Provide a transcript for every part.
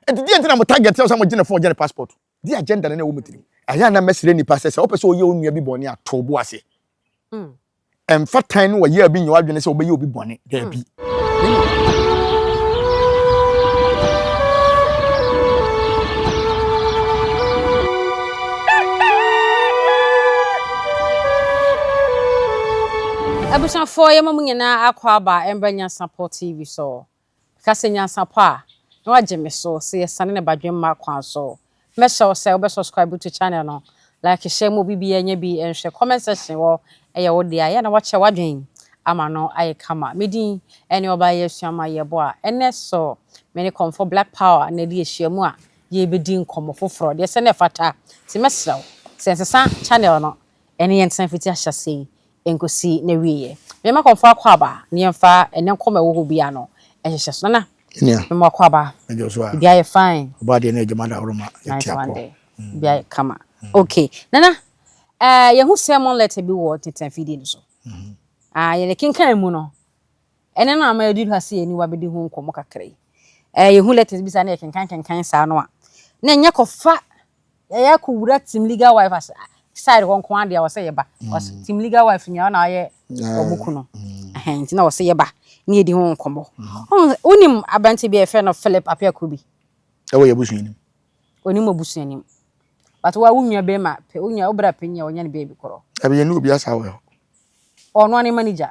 Enti deɛ nti na mo target sɛ mo gye ne phone gye ne passport di agenda no na ɛwɔ mo tirim. Ɛyɛ a na mɛsrɛ nnipa sɛ sɛ wɔpɛ sɛ wɔyɛ wo nua bi bɔne a to wo bo ase. Ɛmfa tan ne ɔyea bi nyɛ w'adwene sɛ wobɛyɛ obi bɔne. Daabi. Abusuafoɔ yɛma mo nyinaa akɔ aba mbra Nyansapoɔ TV so. Ka sɛ nyansapɔ a na wagye me so sɛ yɛsane ne badwemma kwan so. Mɛhyɛ wo sɛ wobɛ subscribe to channel no, like hyɛ mu obi biara nya bi nhwɛ comment section hɔ ɛyɛ wo dea yɛ na wakyɛ wadwen ama no ayɛ kama. Me din ɛne Ɔbaayewa Asuaman Yeboah. Ɛnɛ so me ne Kɔmfɔ Black Power na ɛdi ahyiamu a yɛbɛdi nkɔmmɔ foforɔ deɛ sɛ na ɛfata nti mɛsrɛ wo sɛ nsesa channel no Ɛnne yɛntena fiti ahyɛaseɛ yi nkosi n'awieɛ. Mene m'akɔmfoɔ akwaaba, ne yɛmfa ɛnne nkɔ ma ɛwɔ hɔ biara no nhyehyɛ so. Nana, me mo akwaaba, ebi ayɛ fine. Ɔbɔ adeɛ ne adwuma dahoroma, yɛte apɔ. Ebi ayɛ kama. Ok, Nana, yɛhu sermon letter bi wɔ ntentenafidie no so. Yɛde kenkan mu no, Ɛnnɛ no a ama yɛadu ha sɛ yɛne wo abɛdi ho nkɔmmɔ kakra yi, ɛɛ yɛhu letters bi saa na yɛkenkan kenkan saa no a, na ɛnyɛ kɔfa yɛyɛ akɔ wura Team Legal Wife ase side hɔ nko ara deɛ ɔsɛ yɛba. Ɔsɛ mm. Team Legal Wife nyinaa na ayɛ wɔn ku no. Mm. Nti na ɔsɛ yɛba ne yɛdi ho nkɔmmɔ. Mm. Wonim aberante bi a yɛfrɛ no Philip Apiako bi? Ɛwɔ yɛ abusua nim. Onim abusua nim. But wa wo nua bɛrima, wo nua wo bra panyin a ɔnyɛ ne baabi korɔ. Ɛbi yɛ ne obi asa wɔ hɔ. Ɔno ane manager.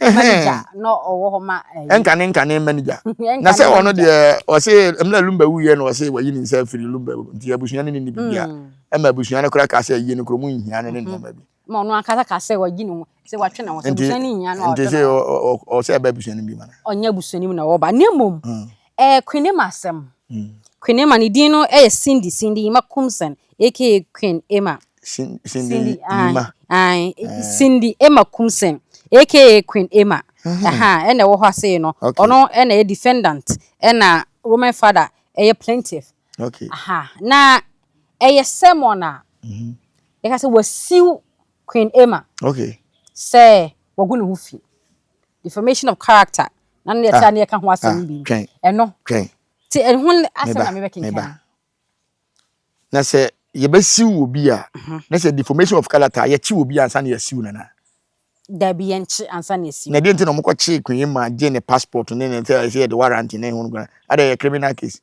manager na ɔwɔ hɔ ma ɛyi. Eh, ɛnkane nkane manager na sɛ ɔno deɛ ɔse mmerɛ lumba wuyɛ na ɔse wayi ne nsa afiri lumba mu nti abusua no ne ne bibia ɛma abusua no koraa kaa sɛ ayie no kuro mu nhia no ne nneɛma bi ma ɔno ankasa ka sɛ wayi ne ho sɛ watwe ne ho sɛ abusua no nhia no nti sɛ ɔsɛ ɛba abusua no bi ma no ɔnyɛ abusua no mu na wɔba ne mmom ɛɛ kwene ma asɛm kwene ma ne din no ɛyɛ cindy cindy ma kumsen aka queen ema Cindy, Cindy Ima. Ae, eh. Cindy Emma Kumseng, aka Queen Emma. Mm-hmm. Aha, ɛna ɛwɔ hɔ ase no. Okay. Ɔno ɛna ɛyɛ defendant, ɛna Roman father ɛyɛ plaintiff. Okay. Aha, na ɛyɛ sermon a. Mm-hmm. Ɛka sɛ wasiw Queen Emma. Okay. Sɛ wagu ne ho fi. Defamation of character. Na ne yɛte ah. a ne yɛka ho asɛm ah, bi. Twɛn. Ɛno. Twɛn. Ti ɛho asɛm na mebɛkenkan. Na sɛ yɛbɛsiw obi a, na sɛ deformation of character a yɛkye obi ansa na yɛasiw no na. Dabi yɛnkye ansa na yɛasiw. Na deɛ nti na wɔn kɔkye Queen Emma gye ne passport ne ne sɛ ɛsɛ yɛde warrant ne ho nkura ada yɛ criminal case.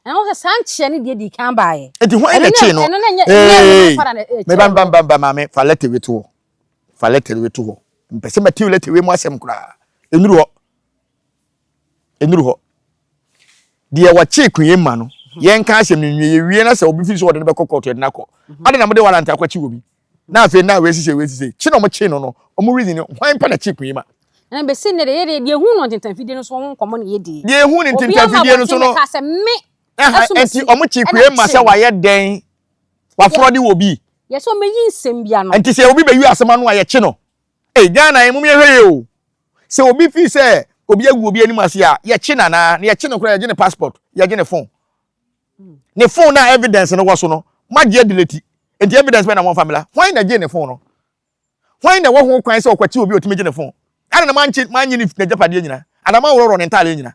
Na wɔn sɛ saa nkyeɛ ne deɛ di kan baa yɛ. Eti ho ɛna kye no. Ɛno na nyɛ ɛyɛ fara na ɛkyɛ. Mɛ ban ban ban ban maame fa lɛtɛ wi to hɔ fa lɛtɛ wi to hɔ mpɛsɛ mɛ ti lɛtɛ wi mu asɛm koraa enuru hɔ. ɛnuru hɔ. Deɛ wɔkyee kunyɛ ma no, yɛnka asɛm no nwie, yɛwie na sɛ obi firi sɛ wɔde no bɛkɔ kɔɔto yɛde no akɔ. Adɛn na mode warrant akɔkye obi? Na afei na wei sisei, wei sisei. Kye na wɔkyee no no, wɔn reason ne hwan pɛ na kyee kunyɛ ma? Ɛna bɛsi nnɛ deɛ yɛ deɛ, deɛ ɛhuu no ntentanfidie no so ho nkɔmmɔ na yɛdie. Deɛ ɛhuu no ntentanfidie no so no. Obiara ma bɔnten bɛkaa sɛ, me ɛso mesi. Ɛnti wɔkyee kunyɛ ma sɛ wayɛ dɛn? Wafrɔde wɔ bi? Yɛsɛ wɔmɛyi nsɛm bi ano. Ɛnti sɛ obi bɛyi asɛm ano a, yɛkye no? Ei Ghana yi mom yɛ hwɛ yie o sɛ obi fii sɛ obi agu obi anim ase a yɛ kye no anaa na yɛ kye no koraa yɛ gye ne passport yɛ gye ne phone ne phone na evidence no wɔ so no mo agye adileti nti evidence bɛn na wɔn fa mela hwan na gye ne phone no hwan na ɛwɔ ho kwan sɛ ɔkwati obi otumi gye ne phone ana na manche manye ne n'agyapadeɛ nyina ana manworɔworɔ ne ntaaleɛ nyina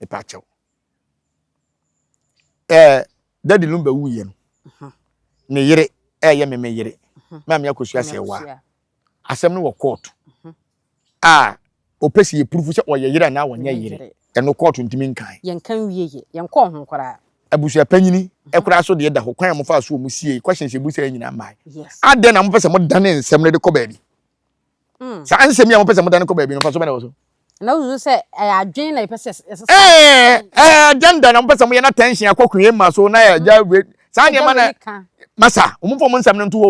mepakyɛw ɛɛ dadi no bɛwu yɛ no mhm. ne yere ɛyɛ me me yere mhm. maame akosua sɛ wa asɛm no wɔ kɔɔto mhm. a ɔpɛ sɛ yɛpurufu sɛ ɔyɛ yere anaa wɔnyɛ yere ɛno kɔɔto ntumi nkan yɛnka wie yɛ yɛnkɔɔ ho koraa abusuapanyini ɛkoraa so deɛ da hɔ kwan a mofa so ɔmu sie questions ɛbu sɛ nyina mmae adɛn na mopɛ sɛ modane nsɛm no de kɔ baabi Mm. saa nsɛm yi a mopɛ sɛ modane kɔ baabi no mfa so bɛn na ɛwɔ so na wosusu sɛ ɛyɛ adwene na yɛpɛ sɛ ɛsesa ɛɛ ɛɛ, eh, agenda na mopɛ sɛ moyɛ na tension akɔ kue ma so na yɛ agya wei saa agya nneɛma na wei ka masa wɔn mfa wɔn nsɛm no nto hɔ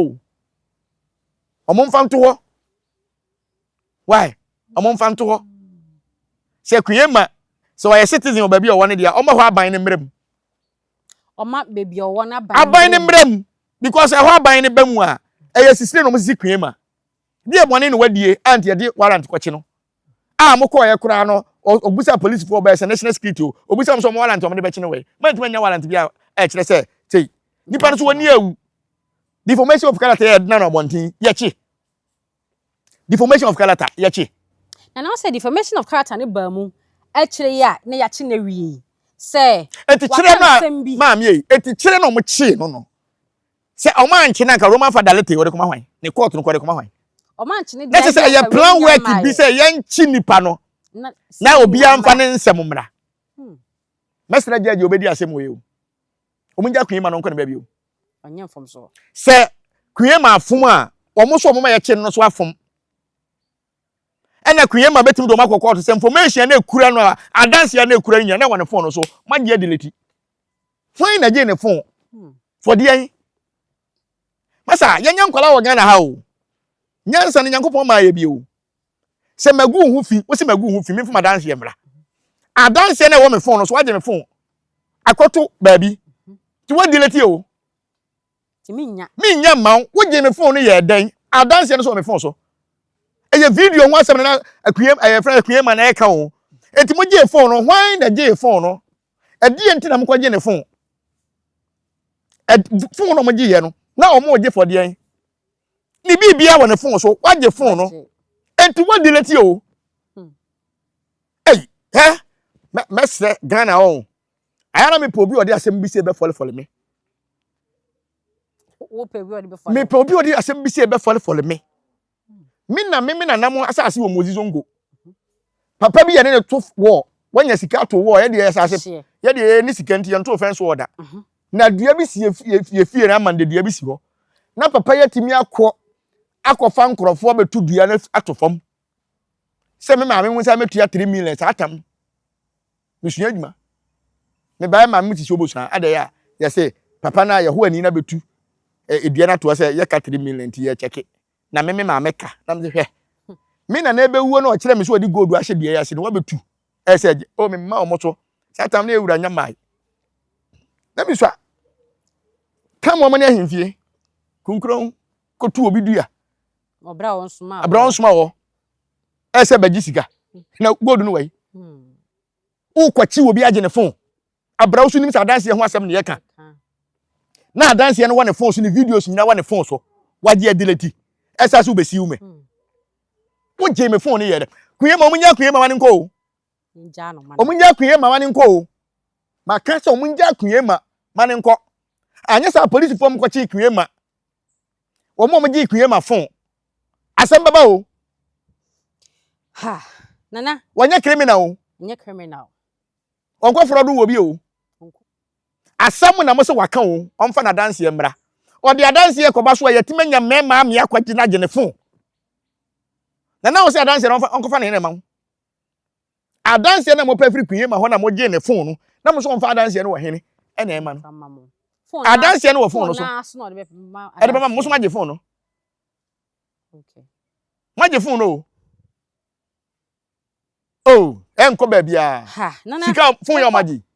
o wɔn mfa nto hɔ why wɔn mfa nto hɔ sɛ kue ma sɛ ɔyɛ citizen wɔ baabi a ɔwɔ no deɛ ɔma hɔ aban no mmerɛ mu ɔma baabi a ɔwɔ no aban aban no mmerɛ mu mmerɛ mu because ɛhɔ aban no ba mu a ɛyɛ sisire na wɔn sisi kue ma Deɛ bɔne na wadie a nti yɛde warrant kɔkye no? A mokɔɔeɛ koraa no ɔbusaa polisifoɔ bɛɛ sɛ national security o ɔbusaa wɔn sɛ wɔn warrant a wɔde bɛkye no wɔ he? Moantumi annya warrant bi a ɛkyerɛ sɛ sei nipa no so wɔn ni awu deformation of character yɛ ɛdena no abɔnten yɛkye deformation of character yɛkye. Na na ɔsɛ deformation of character no baa mu akyire yi a na yɛakye no awie sɛ waka nsɛm bi. Eti kyerɛ no a maame ei eti kyerɛ na wɔn kyee no no Sɛ ɔmo ankye no anka Roma fa Dalete ɔde kɔma hwan? Ne court no kɔ ɔde kɔma hwan? Ɔmo ankye no Na deɛ kyerɛ sɛ ɛyɛ plan work bi sɛ yɛnkye nipa no na obiara nfa ne nsɛm mmra. Hmm. Mɛsrɛ judge a obedi asɛm wɔ yi o. Ɔmo ngya Queen ma no nkɔ ne baabi o. Ɔnyɛ mfomso. Sɛ Queen ma afom a, ɔmo so ɔmo ma yɛkye no so afom. ɛna Queen Emma bɛtumi de wɔn akɔ kɔɔto sɛ information a na ekura no a adanse a na ekura no nyinaa na wɔ ne phone no so ma deɛ delete hwan na gye ne phone hmm. for deɛ yi masa yɛnyɛ nkwadaa wɔ Ghana ha o nyansa no Nyankopɔn maa yɛ bi o sɛ magu ho fi wosi magu ho fi memfa m'adanseɛ mmra adanseɛ no ɛwɔ me fon no so wagye me fon akɔto baabi nti woadelete o Nti me nnya. Me nnya mma wo. Wo gyee me phone no yɛɛ dɛn? Adanseɛ no nso wɔ me phone so. Ɛyɛ video ho asɛm na Akuyem ɛyɛ fɛn Akuyema na ɛka o. Nti mo gyee phone no, hwan na gyee phone no? Ɛdeɛ nti na mo kɔ gye ne phone? Ɛd phone no mo gye yɛ no, na ɔmo gye for deɛn? Ne biribiara wɔ ne phone so, wagye phone no. Nti wa delete o. Hey, hɛ, mɛ mɛsrɛ Ghana ɔn. Aya na mepɛ obi a ɔde asɛm bi sɛ ɛbɛfɔlefɔle me. Wopɛ obi a ɔde bɛfɔle. Mepɛ obi a ɔde asɛm bi sɛ ɛbɛfɔlefɔle me. Me na me me nana mo asase wɔ Mozi Zongo. Papa bi yɛ ne ne to wɔ wanya sika to wɔ yɛ deɛ asase yɛ deɛ ne sika nti yɛn to fɛn so ɔda. Mhm. Na dua bi si efie fie na ama dua bi si hɔ. Na papa yɛ timi akɔ akɔfa nkorɔfoɔ bɛtu dua no ato fam. Sɛ me maame ho nsa mɛtua 3 million saa tam. Mesua adwuma. Mebae ma mete sɛ obosua. Adɛn a yɛse papa no a yɛho ani na betu edua no atoɔ sɛ yɛka three million nti yɛkyɛke. Na me me maame ka na mese hwɛ me nana ebewuo na ɔkyerɛ me sɛ ɔde gold ahyɛ dua yi ase na wabetu ɛsɛ agye o me mma wɔn so saa tam no yɛ wura nyamae na mesua tam wɔn ne ahemfie kunkuron kotu obi dua ɔbra wɔn soma wɔ ɛsɛ bɛgye sika na gold no wai wokwakyi obi agye ne fon abra wo so nim sɛ adanseɛ ho asɛm ne yɛka na adanseɛ no wɔ ne fon so ne videos nyina wɔ ne fon so wagye adilati ɛsa so wobɛsiw me wogye me fon no yɛ dɛ kue ma ɔmunya kue ma wane nkɔ o ɔmunya kue ma wane nkɔ o maka sɛ ɔmunya kue ma wane nkɔ anyɛ sɛ apolisifoɔ mkɔkye kue ma Wɔn a wɔgye akyinnye ma fon. Asɛm bɛba o. Ha, Nana. Wɔnyɛ criminal o. Nyɛ criminal. Wɔnkɔfrɔ do wɔ bi o. Asɛm na mo se waka o, ɔmfa n'adanseɛ mmra. Ɔde adanseɛ kɔba so a, yɛatumi anya mmarima amee akɔgye no agye ne fon. Nana a ɔse adanseɛ no, ɔnkɔfa ne yere mma wo. Adanseɛ no a mopɛ firi Kunyema hɔ na mogyee ne fon no na mo nso wɔmfa adanseɛ no wɔ hene na ɛma no. Adanseɛ no wɔ fon no so ɛde bɛma mo nso moagye fon no. Moagye fon no o. Oh, ɛnkɔ baabiara. Sika fon yɛ ɔmagye.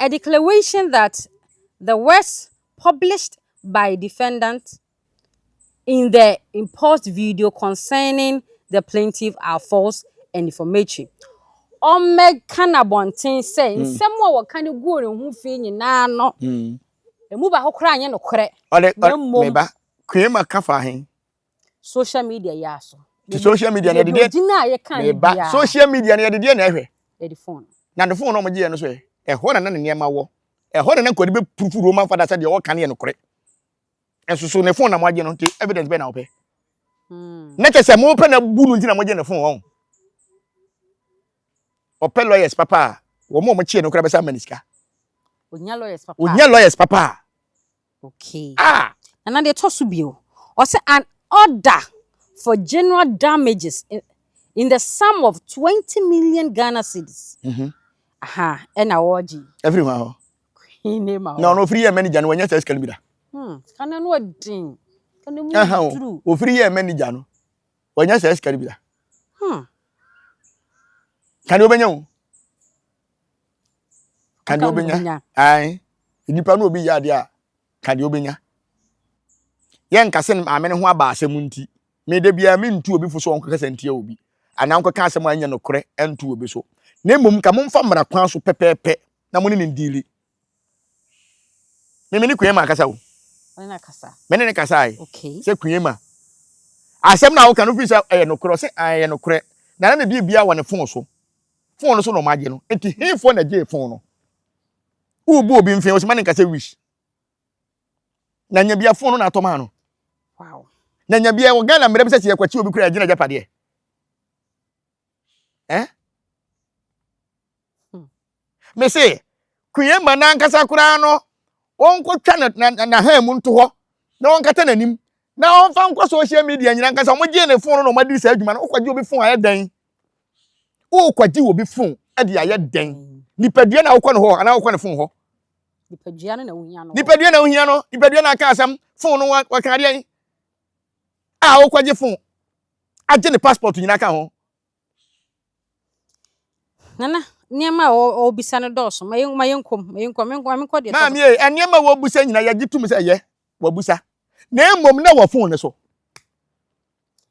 A declaration that the words published by defendant in the impost video concerning the plaintiff are false and defamatory. Wɔmmɛka no abɔnten sɛ nsɛm a wɔka no guu ne ho fi nyinaa no, emu baako koraa nyɛ nokorɛ, Ɔde, na ɔde, mmom meba. Kweema ka fa he? social media yi aso. Ti social media na yɛde deɛ gyina a yɛka ne bia. social media na yɛde deɛ na ɛhwɛ. Yɛde phone. Na de phone na wɔn gye yɛn no so yɛ ɛhɔ na na ne nneɛma wɔ ɛhɔ na na nkɔde bɛ purufu Roman fada sɛ deɛ ɔka ne yɛ no kore. Ɛso so ne phone na wɔn agye no nti evidence bɛ na wɔpɛ. Hmm. Na kyɛ sɛ mo pɛ na bu no nti na wɔn gye ne phone wɔn. Ɔpɛ lawyers papa a wɔn a wɔn kyeɛ no kora bɛsa ama ne sika. Onya lawyers papa. Onya lawyers papa a. Okay. Ah! Na na deɛ ɛtɔ so bio, ɔsɛ an order for general damages in, in the sum of twenty million Ghana cedis. Mhm. Aha, ɛna ɔregye. Ɛfiri hwan hɔ? Queen ne ma Na hɔ. ɔno ofiri yɛ manager no wanya saa sika no bi da. Hmm, sika no ano ɔden. Sika no mu Aha o, duru. ofiri yɛ manager no wanya saa sika no bi da. Hmm. Ka deɛ wobɛnya o. ka deɛ wobɛnya ae nipa no obi yɛ adeɛ a ka deɛ wobɛnya yɛnka sɛ maame no ho aba asɛm nti meda biara mentu obi fo so ɔnkɔkasa ntia obi anaa ɔnkɔka asɛm a ɛnyɛ nokorɛ nto obi so na mmom ka momfa mmara kwan so pɛpɛɛpɛ na mo ne ne ndiili meme ne kuyema akasa o mene ne kasa ae sɛ kuyema asɛm no a woka no firi sɛ ɛyɛ nokorɛ sɛ ɛyɛ nokorɛ na na ne bia bia wɔ ne fon so Fon no so na wɔagye no. Enti hefoɔ na gyee fon no? Wobu obi mfee wɔsɛ ma ne nkasa wish. Na nya bia fon no na atɔ maa no. Wow. Na nya bia wɔ Ghana mmerɛ bi sɛ sɛ yɛkwakyi obi kura yɛgye n'agyapadeɛ. Eh? Hmm. Me se, Queen ma n'ankasa koraa no wɔnkɔtwa n'ahan mu nto hɔ na wɔnkata n'anim na wɔmfa nkɔ social media nyina nkasa wɔgyee ne fon no na wɔadi saa adwuma no wokɔgye obi fon ayɛ dɛn Wokwagye obi fon de ayɛ dɛn? Nipadua na wokɔ no hɔ anaa wokɔ ne fon hɔ? Nipadua no na wohia no. Nipadua na wohia no. Nipadua na aka asɛm. Fon no wɔka adeɛ a wokwagye fon agye ne passport nyinaa ka ho. Nana, nneɛma a wɔbisa no dɔɔso. Ma yɛn ma yɛn kɔm, ma yɛn kɔm, ma yɛn kɔ deɛ. Maame ye, nneɛma a wɔbisa nyinaa yɛgye tum sɛ ɛyɛ wɔbisa. Na mmom na wɔ fon no so.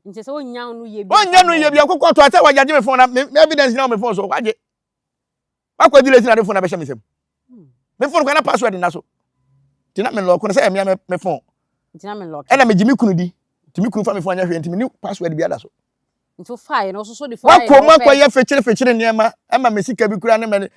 nti sɛ wonnya no yɛ bi wonnya no yɛ bi akokɔ to atɛ wagye me fon na me evidence na me fon so wagye wakɔ di lesi na de fon na bɛhyɛ me nsam hmm. me fon kwa na password na so nti na me lɔko no sɛ ɛmea me fon ɛna megye me kunu di nti me kunu fa me fon anyɛ hwee nti me ne password bi ada so nti wofaeɛ no wososo de fo wakɔ mu akɔyɛ fekyere fekyere nneɛma ɛma me sika bi kura ne mɛ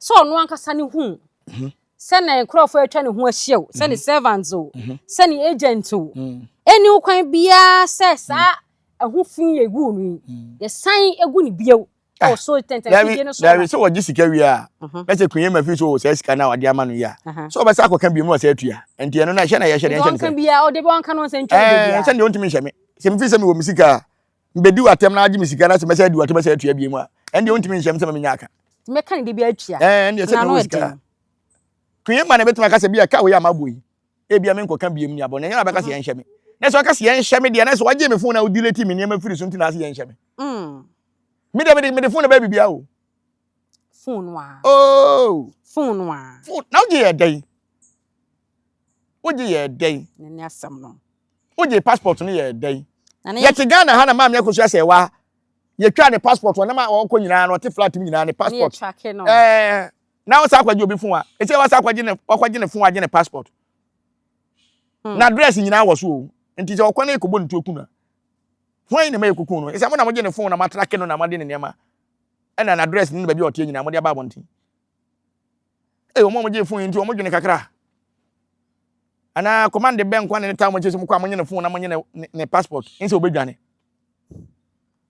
sɛ ɔno ankasa no hu mhm. sɛ na nkurɔfoɔ atwa ne ho ahyia o sɛ ne mhm. servants o mhm. sɛ ne agent o ɛni mm. kwan biara sɛ saa ɛho mm. fi yɛ gu no yi mm. yɛsan egu ne bio ah, wɔ so tɛntɛnfidie no so dabi sɛ wɔgye sika wie a na sɛ kunyɛ ma fi so wɔ saa sika no a wɔde ama no yi a sɛ wɔbɛsa akɔka bio mu wɔ sɛ atua nti ɛno na ɛhyɛ na yɛhyɛ ne nhyɛ ne sɛ ɔde bɛ ɔnka no nsɛ ntwa ne baabi a sɛ deɛ ɔntumi nhyɛ me sɛ mefi sɛ mewɔ me sika a Mebɛdi w'atɛm na agye me sika na sɛ mɛsɛ adi w'atɛm ɛsɛ atua bie mu a, ɛndeɛ wontumi nhyɛm sɛ ma menya aka. Nti mɛka ne de bi atua. Ɛɛ, ɛndeɛ sɛ mewɔ sika a. Queen ma na ɛbɛtumi aka sɛ bia ka wei a mabɔ yi, ebia menkɔka biem ni abɔ no, ɛnyɛ na bɛka sɛ yɛnhyɛ me. Na sɛ ɔka sɛ yɛnhyɛ me deɛ, na sɛ wagyee me fon na odiletee me nneɛma firi so nti na ase yɛnhyɛ me. Me deɛ mede mede fon na bɛyɛ biribiara o. Fon no a. Oo. Fon no a. Fon na wogye yɛ dɛn? Wogye yɛɛ dɛn? Ne ne asɛm no. Wogye passport no yɛɛ dɛn? Yɛte Ghana ha na maame akosua sɛ wa yɛtwaa ne passport wɔ nam a ɔkɔ nyinaa no ɔte flat mu nyinaa ne passport ɛɛ na ɔsa akɔgye obi fon a ɛsɛ ɔsa akɔgye ne ɔkɔgye ne fon agye ne passport hmm. na address nyinaa wɔ so o nti sɛ ɔkɔ na yɛkɔbɔ ne tuo ku no hwan yi na ma yɛkɔku no ɛsɛ mo na mogye ne fon na matrake no na mode ne nneɛma ɛna na address ne ne baabi a ɔteɛ nyinaa mode aba abɔnten Ee, wɔn a wɔgye fon yi nti, wɔdwene kakra. Anaa kɔmande bɛn nkwa na ne taa wɔn akyi sɛ mokɔ a monye ne fon na monye ne ne passport nsɛ wɔbɛdwane.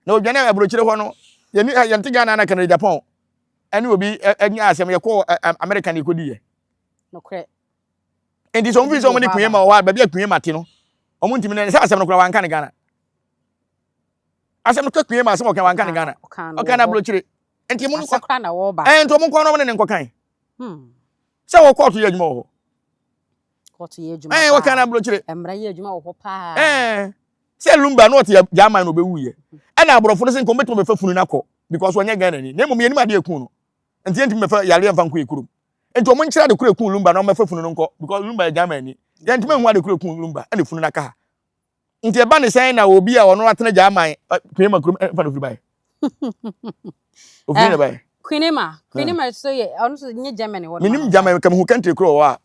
Na wɔdwane a aburokyire hɔ no, yɛni yɛnte Ghana na Canada Japan ɛne obi anya asɛm yɛkɔ America na yɛkɔdi yɛ. Nokorɛ. Nti sɛ wɔn fi sɛ wɔn ne kunyɛ ma wɔ hɔ a baabi a kunyɛ ma te no wɔn ntumi ne sɛ asɛm no koraa wɔanka ne Ghana. Asɛm no tɔ kpee ma asɛm ɔka wanka ne Ghana. Ɔka no aburokyire. Nti mo nkɔ. Ɛɛ nti ɔmo nkɔ no ɔmo ne ne nkɔkan. Hmm. Sɛ wɔ kɔɔto yɛ adwuma wɔ hɔ. Kɔɔto yɛ adwuma paa. Ɛɛ ɔka no aburokyire. Mmara yɛ adwuma wɔ hɔ paa. Ɛɛ sɛ lumba no ɔte German na ɔbɛwu yɛ. Ɛna aborɔfo no sɛ nkɔm bɛtumi bɛfa funu no akɔ because ɔnyɛ Ghana ni. Na mmom yɛnim adeɛ ɛku no. Nti yɛntumi bɛfa yareɛ mfa nkɔ yɛ kurom. Nti ɔmo nkyerɛ ade koro ɛku lumba na ɔmo bɛfa funu no nkɔ because lumba yɛ German ni. Yɛntumi nhu ade koro ɛku lumba ɛna funu no aka ha. Nti ɛba ne sɛn na obi a ɔno atena Gyaman Kwinima kurom ɛmfa no firi bae? Ofiri na bae. Kwinima, Kwinima so yɛ ɔno so nye Germany hɔ. Menim Germany kam hu country koro wɔ a.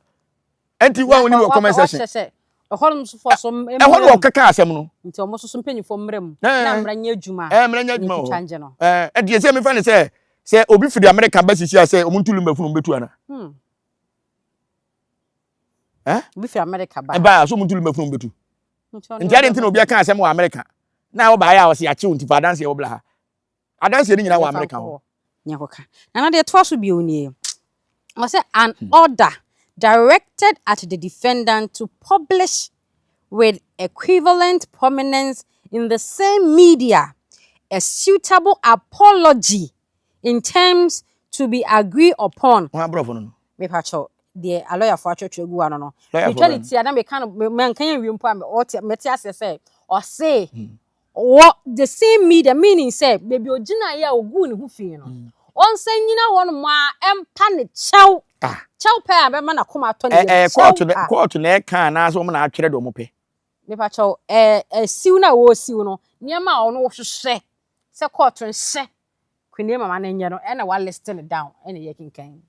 Ɛnti wa wɔn wɔ comment section. Wɔahyɛ sɛ ɛhɔ nom so fɔ so mmrɛ mu. Ɛhɔ no wɔkeka asɛm no. Nti wɔn so so mpanyinfoɔ mmrɛ mu. Na mmrɛ nyɛ adwuma. Ɛɛ mmrɛ nyɛ adwuma wɔ hɔ. Ɛɛ ɛdeɛ sɛ mefa ne sɛ sɛ obi firi America ba sisi a sɛ wɔn ntu lumba funu wɔn bɛtu ana. Hmm. Eh? Obi fi America ba. Ɛbaa so muntulu mɛfunu mbetu. Nti ade nti na obi aka asɛm wɔ America. Na ɛwɔ baayɛ a ɔsi akyew nti fa adanse ɛwɔ bla ha. Adanse ni nyina wɔ America hɔ. Nyɛ kɔ ka. Na na deɛ ɛtoa so bio nie. Ɔsɛ an hmm. order directed at the defendant to publish with equivalent prominence in the same media a suitable apology in terms to be agreed upon. Hwan brɔfo no no? Mepa kyɛw, deɛ alɔyafo atwerɛtwerɛ agu ano no, metwa ne ti a na meka no, manka yɛ nwie mpo a mɛte aseɛ sɛ ɔse wɔ the same media, meaning sɛ baabi ogyinaeɛ a oguu ne ho fii no, ɔnsan nyina hɔ nom ara ɛmpa ne kyɛw, kyɛw pɛ a bɛma n'akoma atɔ ne yam, kyɛw a. Ɛɛ, kɔɔto na ɛka anaasɛ wɔn na atwerɛ deɛ wɔpɛ? Mepa kyɛw, ɛɛ, siw no a wɔresiw no, nneɛma a ɔno ɔhwehwɛ sɛ kɔɔto nhyɛ Queenie mama no nyɛ no ɛna wa list no down ɛna yɛ kenkan.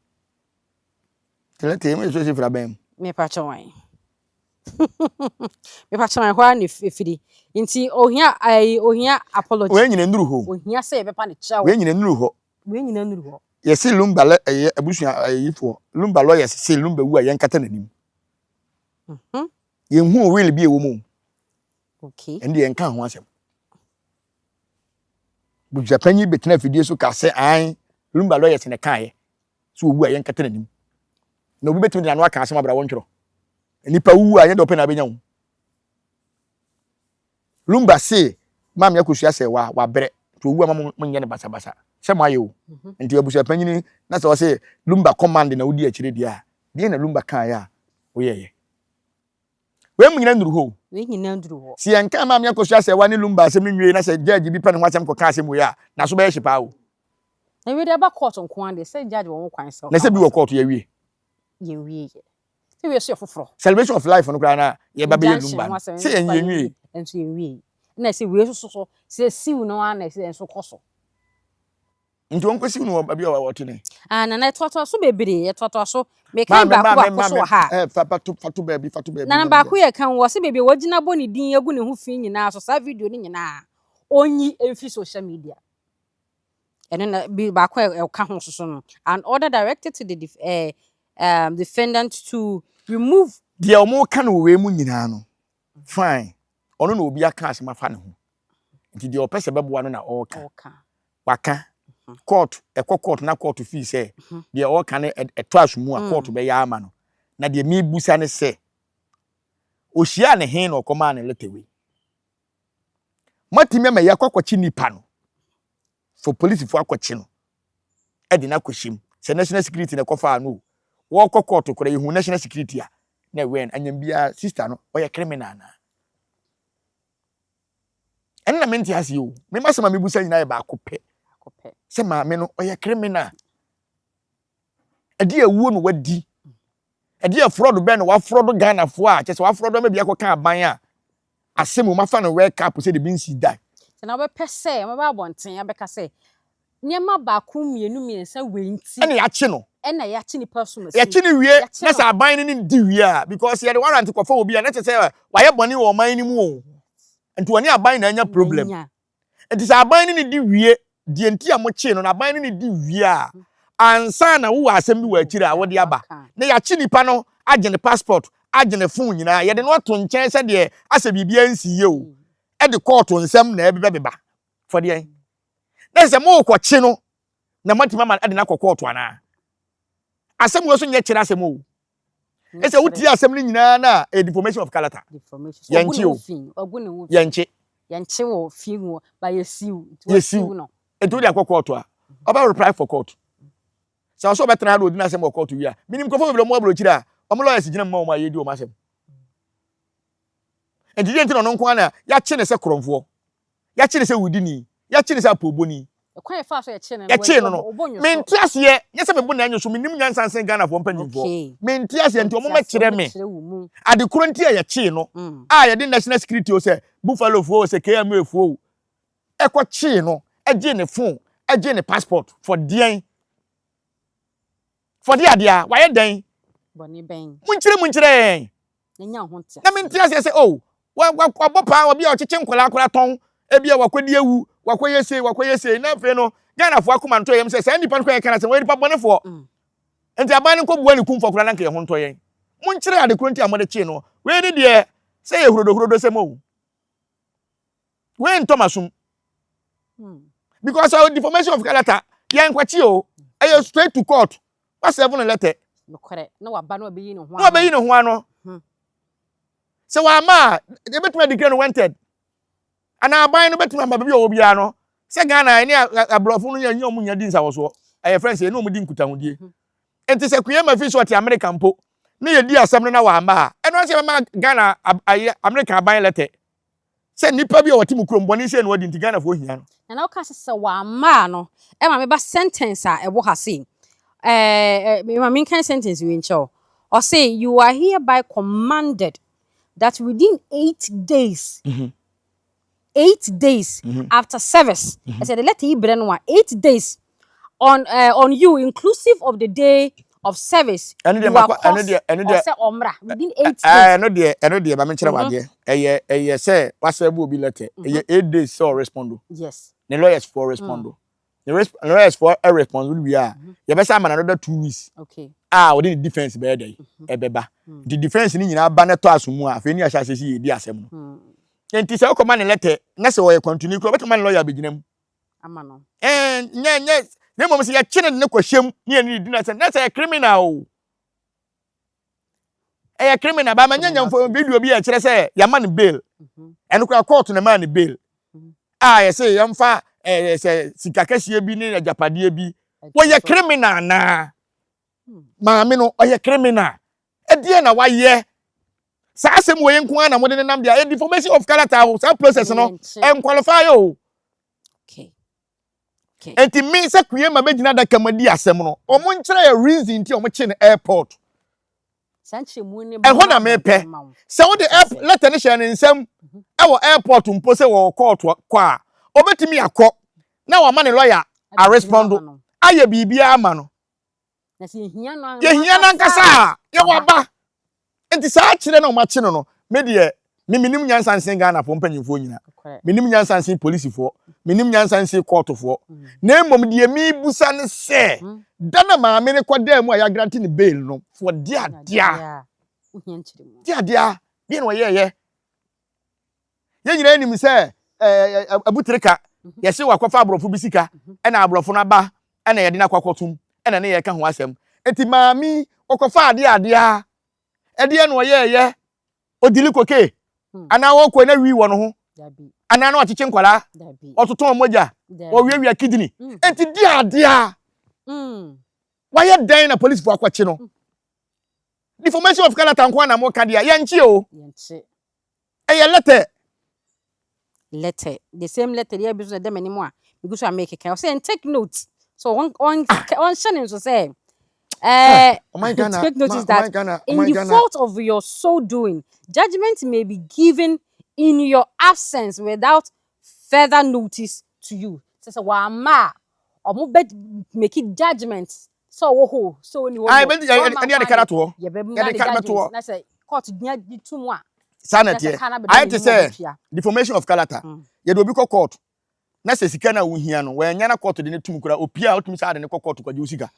Tena tee me so si fra bɛn mu. Me pa kyɛ wan. me pa kyɛ wan hɔ ara ne firi. Nti ohia ayi ohia apology. Wei nyina nuru hɔ. Ohia sɛ yɛbɛpa ne kyɛw. Wei nyina nuru hɔ. Wei nyina nuru hɔ. Yɛsi lumba lɛ ɛyɛ abusua ɛyi fo. Lumba lawyers si lumba wu a yɛn kata n'anim. Mhm. Yɛn hu will bi ɛwɔ mu. Okay. Ɛn deɛ yɛn ka ho asɛm. Busuapanyin bi bɛtena afidie so kaa sɛ, Aane, Lumba lawyers na ɛkaeɛ sɛ ɔwu a yɛnkata n'anim. Na obi bɛtumi de n'ano aka asɛm abra wɔntwerɛ. Nnipa wuwu a ɛnyɛ deɛ ɔpɛ na abɛnya wo. Lumba se Maame Akosua sɛ wa wabrɛ nti ɔwu ama mo nyɛ no basabasa sɛ mo ayɛ o. Mhm. Nti abusuapanyin na sɛ ɔse Lumba command na wodi akyire deɛ a, deɛ na Lumba kaeɛ a woyɛeɛ? Wei mu nyina nnuru hɔ o. Wei nyina nnuru hɔ. Sɛ yɛnkaa Maame Akosua Asɛɛwa ne Lumba asɛm no nwiei na sɛ judge bi pɛ ne ho asɛm kɔkaa asɛm wei a, n'aso bɛyɛ hye paa o. Na wei deɛ ɛba court nko ara deɛ, sɛ judge wɔ ho kwan sɛ ɔka ho asɛm. Na sɛ bi wɔ court, yɛawie. Yɛnwieeɛ. Sɛ wei nso yɛ foforɔ. Celebration of life no koraa na yɛba bɛyɛ Lumba no, sɛ yɛn yɛnwiei. Nso yɛnwiei. Ɛna sɛ wei nso so, sɛ siw no ara na ɛsɛ nso kɔ so. Nti wɔn kɔsiw no wɔ baabi a wɔte ne. Ah nana ɛtoatoa so bebree ɛtoatoa so mekan baako baako so wɔ ha. Ɛɛ fa fato fato baabi fato baabi. Nana baako yɛ kan wɔ se baabi a wɔgyina bɔ ne din agu ne ho fi nyinaa so saa video ne nyinaa onyi mfi social media. Ɛno na bi baako a ɛka ho soso no an order directed to the def, eh, um, defendant to remove. Deɛ wɔn ka no wɔ wei mu nyinaa no fine ɔno na obi aka asɛm afa ne ho nti deɛ ɔpɛ sɛ bɛboa no na ɔreka. Waka, kɔɔto, ɛkɔ kɔɔto na kɔɔto fii sɛ deɛ ɔreka no ɛtɔ asomu a, kɔɔto bɛyɛ ama no. Na deɛ mebusa ne sɛ, ɔhyiaa no he na ɔkɔmaa no lɛtɛ wei? Moatumi ama yɛakɔ akɔkye nipa no for polisifoɔ akɔkye no de no akɔhyɛ mu sɛ national security na ɛkɔfaa no o. Wɔkɔ kɔɔto koraa yɛhu national security a na ɛwɛn anyam biara sister no ɔyɛ criminal anaa? ɛno na mente aseɛ o me masɛm a mebusa nyinaa yɛ baako pɛ sɛ maame no ɔyɛ criminal ɛde awuo no wadi ɛde afrɔdo bɛn na wafrɔdo ghanafoɔ a kyɛ sɛ wafrɔdo ama bi akɔka aban a asɛm mu mafa no wake up sɛ de bi nsi da sɛ na wobɛpɛ sɛ mɛba abɔnten abɛka sɛ Nneɛma baako mmienu mmiɛnsa wei nti. Ɛna yɛakye no. Ɛna yɛakye nipa som asie. Yɛkye no wie na sɛ aban no nim di wie a because sɛ yɛde warrant kɔfa obi a na kyerɛ sɛ wayɛ bɔne wɔ ɔman no mu o nti ɔne aban na anya problem nti sɛ aban no ne di wie deɛ nti a mokyee no no aban no ne di wie a ansa na wowɔ asɛm bi wɔ akyiri a wode aba na yɛakye nipa no agye ne passport agye ne phone nyinaa yɛde no ato nkyɛn sɛdeɛ asɛ biribiara nsiiɛ o ɛde kɔɔto nsɛm na ɛbebɛbeba fɔdeɛn na ɛsɛ sɛ morekɔkye no na moatumi ama de no akɔ kɔɔto anaa? Asɛm wei so nyɛ kyerɛ asɛm o. Ɛsɛ wotie asɛm no nyinaa na ɛyɛ deformation of character. Yɛnkye o. Yɛnkye. Yɛnkye wɔ fie mu ba yɛsiw. Yɛsiw no. Nti wode akɔ kɔɔto a, ɔbɛ reply for court. Sɛ ɔsɛ ɔbɛtena ha na ɔdi n'asɛm wɔ kɔɔto wie a, menim nkurɔfoɔ bebree ɔmo aburokyiri a, ɔmo lawyers gyina mu ma ɔmo a yɛdi ɔmo asɛm. Nti deɛ nti na ɔno nko ara na yɛakye no sɛ korɔmfoɔ. Yɛkyee no sɛ wudini. Yɛkyee no sɛ apoobɔni. Kwan a yɛfaa so yɛkyee no no, Yɛkyee no no, wɔbɔ wɔn nnwosɔ. mente aseɛ, nyɛ sɛ mebo nnan nnwosɔ, mennim nyansa nsen Ghanafoɔ mpanyimfoɔ. Okay. Mente aseɛ, nti Mente aseɛ, wɔmmɛkyerɛ me wɔmmɛkyerɛ wo mu. ade korɔ nti a yɛkyee no, Mm. a yɛde National Security o, sɛ Buffalofoɔ o, sɛ KMAfoɔ o, ɛkɔkyee no, gyee ne phone, gyee ne passport, for deɛn? For deɛ adeɛ a, wayɛ dɛn? Bɔne bɛn? Monkyerɛ mu nkyerɛ yɛn. na nya ho ntease. Na me nte aseɛ sɛ oh wabɔ paa obi a ɔkyekye nkwadaa koraa tɔn ebi a wakɔdi awu wakɔyɛ sei wakɔyɛ sei na afei no Ghanafoɔ akoma ntɔ yɛm sɛ saa nipa no kora yɛka no asɛm wɔyɛ nipa bɔnefoɔ nti aban no nkɔbua ne kumfoɔ koraa na nka yɛn ho ntɔ yɛn monkyerɛ ade koro nti a mode kyee no wei ne deɛ sɛ yɛ hurodohurodo sɛm o. Wei ntɔ masum. Hmm. Because uh, deformation of character, yɛn kwakye o, ɛyɛ straight to court, wa seven letter. Nokorɛ, na waba na wabeyi ne ho ano. Na wabeyi ne ho ano. Hmm. Sɛ wama a, ebetumi adikira no wanted. Anaa aban no betumi ama baabi a ɔwɔ biara no, sɛ Ghana ɛne aborɔfo no yɛnyɛ ɔmo nya di nsawɔsoɔ, ɛyɛ fɛn sɛ ɛne ɔmo di nkutahodie. Hmm. Nti sɛ Kuyɛ ma fi so ɔte Amerika mpo, ne yɛdi asɛm no na wama a, ɛno ase ɛbɛma Ghana ayɛ Amerika aban lɛtɛ. Sɛ nnipa bi a wɔte mo kurom bɔne sei na wɔdi nti Ghanafoɔ hia no. Nana woka sɛ sɛ wamma a no ɛma me ba sentence a ɛwɔ ha sei ɛɛ ma menkan sentence wei nkyerɛ wo ɔse you are hereby commanded that within eight days eight days after service ɛsɛ yɛde letter yi brɛ no a eight days on uh, on you inclusive of the day of service ɛno deɛ you are makɔ ɛno caused deɛ ɛno deɛ ɔsɛ ɔmmra within eight ɛɛ days ɛno deɛ ɛno deɛ maame nkyerɛ Mhm, wadeɛ ɛyɛ ɛyɛ sɛ wasɛ bu obi lɛtɛ mhm. ɛyɛ eight days sɛ ɔrespondo yes ne lawyers foɔ mm, respondo ne resp ne lawyers foɔ ɛrespondo no wie a mhm. yɛbɛsɛ ama no another two weeks okay a ɔde ne defence bɛyɛ dɛ mhm, ɛbɛba mm, nti defence no nyinaa ba na ɛtɔ aso mu a afei ne ahyɛ ase si yɛ di asɛm no mm. nti sɛ wokɔma ne lɛtɛ na sɛ ɔyɛ kwantuni kora wobɛtumi ma ne lɔya abɛgyina mu ama no. Ɛɛ, nyɛ, nyɛ, na mmom sɛ yɛkye no de no kɔ hyɛm ne yɛne ne di no asɛm, na sɛ yɛ criminal o. Ɛyɛ criminal, baa ma nyɛ nyamfo video bi a ɛkyerɛ sɛ yɛama no bail. Ɛno koraa kɔɔto na ɛmaa no bail. A yɛse yɛmfa ɛɛ sɛ sika kɛseɛ bi ne agyapadeɛ bi. Wɔyɛ criminal anaa? Maame no ɔyɛ criminal. Ɛdeɛ na wayɛ Saa asɛm wei nko ara na mode nenam deɛ ɛdi formation of character aho saa process no ɛnqualify o. Enti me sɛ kue ma bɛgyina adaka mu adi asɛm no wɔn nkyerɛ yɛ reason nti wɔn kye no airport. Ɛhɔ na mepɛ sɛ wode lɛtɛ no hyɛ ne nsam mhm. ɛwɔ airport mpo sɛ wɔ kɔɔto kɔ a ɔbɛtumi akɔ na wama ne lɔya arespondo ayɛ biribiara ama no yɛhia no ankasa a yɛwɔ aba nti saa kyerɛ na ɔmakye no no me deɛ me menim nyansa nsen ghanafoɔ mpanyimfoɔ nyina menim nyansa nsen polisifoɔ menim nyansa nsen kɔɔtofoɔ mm. na mmom deɛ mebusa ne sɛ mm. da na maame no kɔdaa mu a yɛagrante ne bail no foɔ deadea deadea deɛ na ɔyɛɛyɛ yɛn nyinaa nim sɛ abutere ka mhm. yɛse wakɔfa aborɔfo bi sika mhm. ɛna aborɔfo no aba ɛna yɛde no akɔkɔtom ɛna ne yɛka ho asɛm nti maame ɔkɔfa adeɛ adeɛ a ɛdeɛ na ɔyɛɛyɛ ɔdili koke hmm. anaa ɔkɔ na wii wɔ no ho anaa na ɔkyekye nkwadaa ɔtoto mogya ɔwiawia kidney hmm. nti di adeɛ a hmm. wayɛ dɛn na polisifoɔ akɔkye no Deformation of character nko na mo ka deɛ yɛnkye o. Yɛnkye. Ɛyɛ letter. Letter. The same letter deɛ ebi so na ɛda m'anim a megu so a mekeka. Ɔsɛ yɛn take note. So wɔn wɔn wɔn hyɛ ne nso sɛ. Uh, take notice that in the fault of your so doing, judgment may be given in your absence without further notice to you. Sɛ sɛ wɔama a, wɔn bɛ make judgment sɛ ɔwɔ hɔ o sɛ ɔni hɔ o yɛbɛma kwan yɛbɛma ne guidance na sɛ court gyina di tum a saa na ɛteɛ ayɛ te sɛ deformation of character mm. yɛde obi kɔ court na sɛ sika no a wohia no wɔanya na court de no tum kora opi a wotumi sɛ ade no kɔ court kɔgye wo sika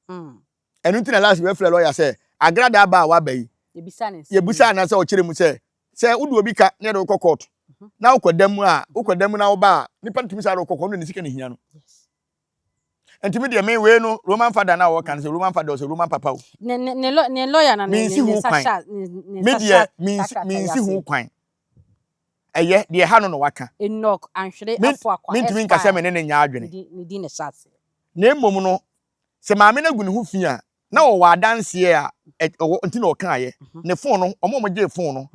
mm. ɛno nti na last wɔafrɛ lɔya sɛ agradaa ba a waba yi yɛbisa anaa sɛ ɔkyerɛ mu sɛ sɛ wode obi ka na yɛde wokɔ court mhm. na wokɔda mu a wokɔda mu na woba a nipa no tumi sɛ ade wokɔ court no ne sika no hia no Nti me deɛ me wei no Roman father na wɔka no sɛ Roman father ɔsɛ Roman papa o. Ne ne ne lɔ ne lɔya na ne ne ne nsa hyɛ ne ne nsa hyɛ takrata yi ase. Me kwan. Ɛyɛ deɛ ha no na waka. Enoch Anhwere Afuakwa. Me ntumi nkasa me ne ne nya adwene. Ne di ne hyɛ ase. Na mmom no sɛ maame no agu ne ho fi a Na wɔwɔ adanseɛ a ɛwɔ nti na ɔkaeɛ. Ne fon no, wɔn a wɔgyee fon no,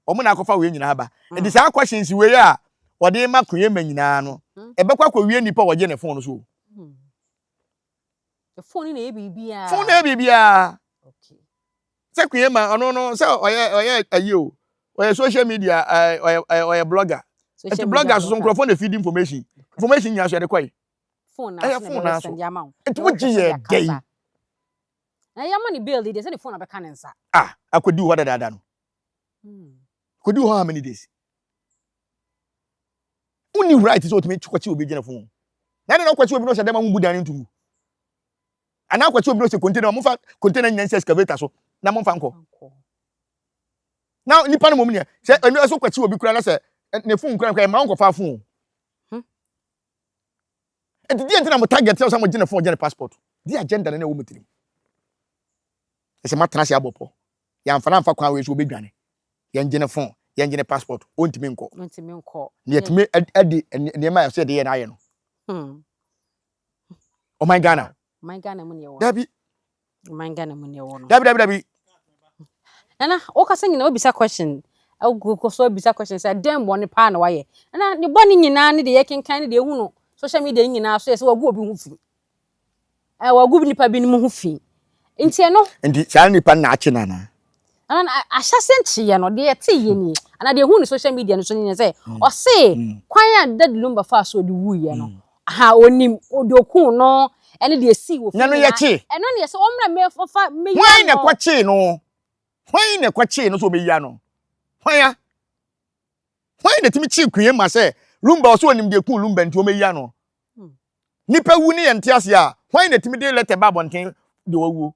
wɔn na akɔfa wei nyinaa aba. Nti saa questions wei a wɔde ma Koyema nyinaa no, ɛbɛkɔ akɔwie nnipa a wɔgye ne fon no so o. Fon no na ɛyɛ biribiara. Fon no na ɛyɛ biribiara. Sɛ Koyema, ɔno no, sɛ ɔyɛ ɔyɛ ayi o, ɔyɛ social media, ɔyɛ ɔyɛ blogger. Nti blogger soso nkurɔfoɔ na feed information. Information nyinaa so yɛde kɔe. Phone na ɛyɛ phone na so nti wo gye yɛ dɛ yi na yɛ ama ne bail yi deɛ sɛ ne phone abɛka ne nsa ah akɔdi hɔ dadaada no hmm. kɔdi hɔ how many days wonni right sɛ ɔtumi kɔkye obi gyina phone na ɛne na ɔkɔkye obi no sɛ dɛm a wombu dan no ntumu anaa ɔkɔkye obi no sɛ container mofa container nyina nsɛ excavator so na momfa nkɔ na nipa no mom neɛ sɛ ɛno ɛso kɔkye obi kora na sɛ ne phone kora no kora ɛma wonkɔfa phone Enti deɛ nti na mo target sɛ mo gye ne phone gye ne passport di agenda na ɛwɔ mo tirim. Ɛsɛ matena ase abɔ pɔ. Yɛamfa no amfa kwan wei so obedwane. Yɛn gye ne phone, yɛn gye ne passport, ontumi nkɔ. Ontumi nkɔ. Na yɛtumi ɛde nneɛma a ɛsɛ yɛde yɛ no ayɛ no. Hmm. Ɔman Ghana. Man Ghana mu ne ɛwɔ. Dabi. Man Ghana mu ne ɛwɔ no. Dabi dabi dabi. Nana, wokasa nyina wobisa question. Wokɔ so wobisa question sɛ dɛn bɔne paa na wayɛ. Nana, ne bɔne nyinaa ne deɛ yɛkenkan ne deɛ ɛhu no social media nyinaa so yɛ sɛ wagu obi ho fi. Wagu nnipa binom ho fi. Nti ɛno. Nti saa nnipa nnaakye no anaa? ɛno no ahyɛse nkyeyɛ no deɛ yɛte yɛ nie anaa deɛ ɛhu ne social media no so no nyɛ sɛ mm. ɔse mm. kwan a dad lumba faa so ɔde wuiɛ no mm. aha ɔnim ɔde okuu no ɛne deɛ ɛsii wɔ fie nyinaa ɛno ne yɛ sɛ ɔmmra mɛfa mɛyia no hwan na ɛkɔkyee no hwan na ɛkɔkyee no sɛ ɔmɛyia no hwan a hwan na ɛtumi kyee kue ma sɛ lumba ɔsɛ ɔnim deɛ kuu lumba nti ɔmɛyia no hmm. nipa wu ne yɛn te ase a hwan na ɛtumi de lɛtɛ ba abɔnten deɛ wawuo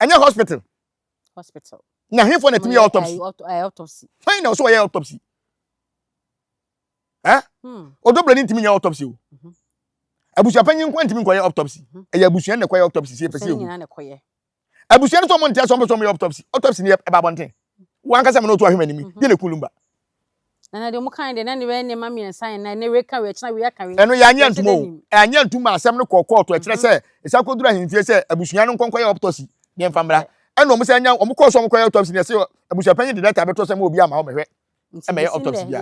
ɛnyɛ hospital hospital. Na hefoɔ na ɛtumi yɛ autopsy? Eh, autopsy. Hwan na ɔsɛ ɔyɛ autopsy? Ɛ? Eh? Hmm. Ɔdɔbrɛ ne ntumi nyɛ autopsy o. Mhm. Abusua panyin nko ntumi nkɔyɛ autopsy. Mhm. Ɛyɛ abusua na ɛkɔyɛ autopsy sɛ ɛfɛ sɛ ɛwu. Abusua no sɛ ɔmo ntea sɛ ɔmo pɛ sɛ ɔmo yɛ autopsy. Autopsy no yɛ ɛba abɔnten. Wankasa mi na ɔtu ahwɛ m'anim. Mhm. Yɛ na ekun lumba. Na na deɛ wɔn kan deɛ na ne bɛyɛ nneɛma mmiɛnsa yɛn nan ne wei ka wei akyina wei aka wei. Ɛno yɛanyɛ ntum o ɛanyɛ ntum ma asɛm no kɔɔ kɔɔto ɛkyerɛ mhm. sɛ ɛsan kɔduru ahemfie sɛ abusua no nkɔnkɔyɛ autopsy ne mfa mmra ɛna wɔn san nya wɔn kɔɔ so wɔn kɔyɛ autopsy ne ɛsɛ abusua panyin de data bɛtɔ sɛ mo obi ama wɔn mɛhwɛ ɛmɛyɛ autopsy bia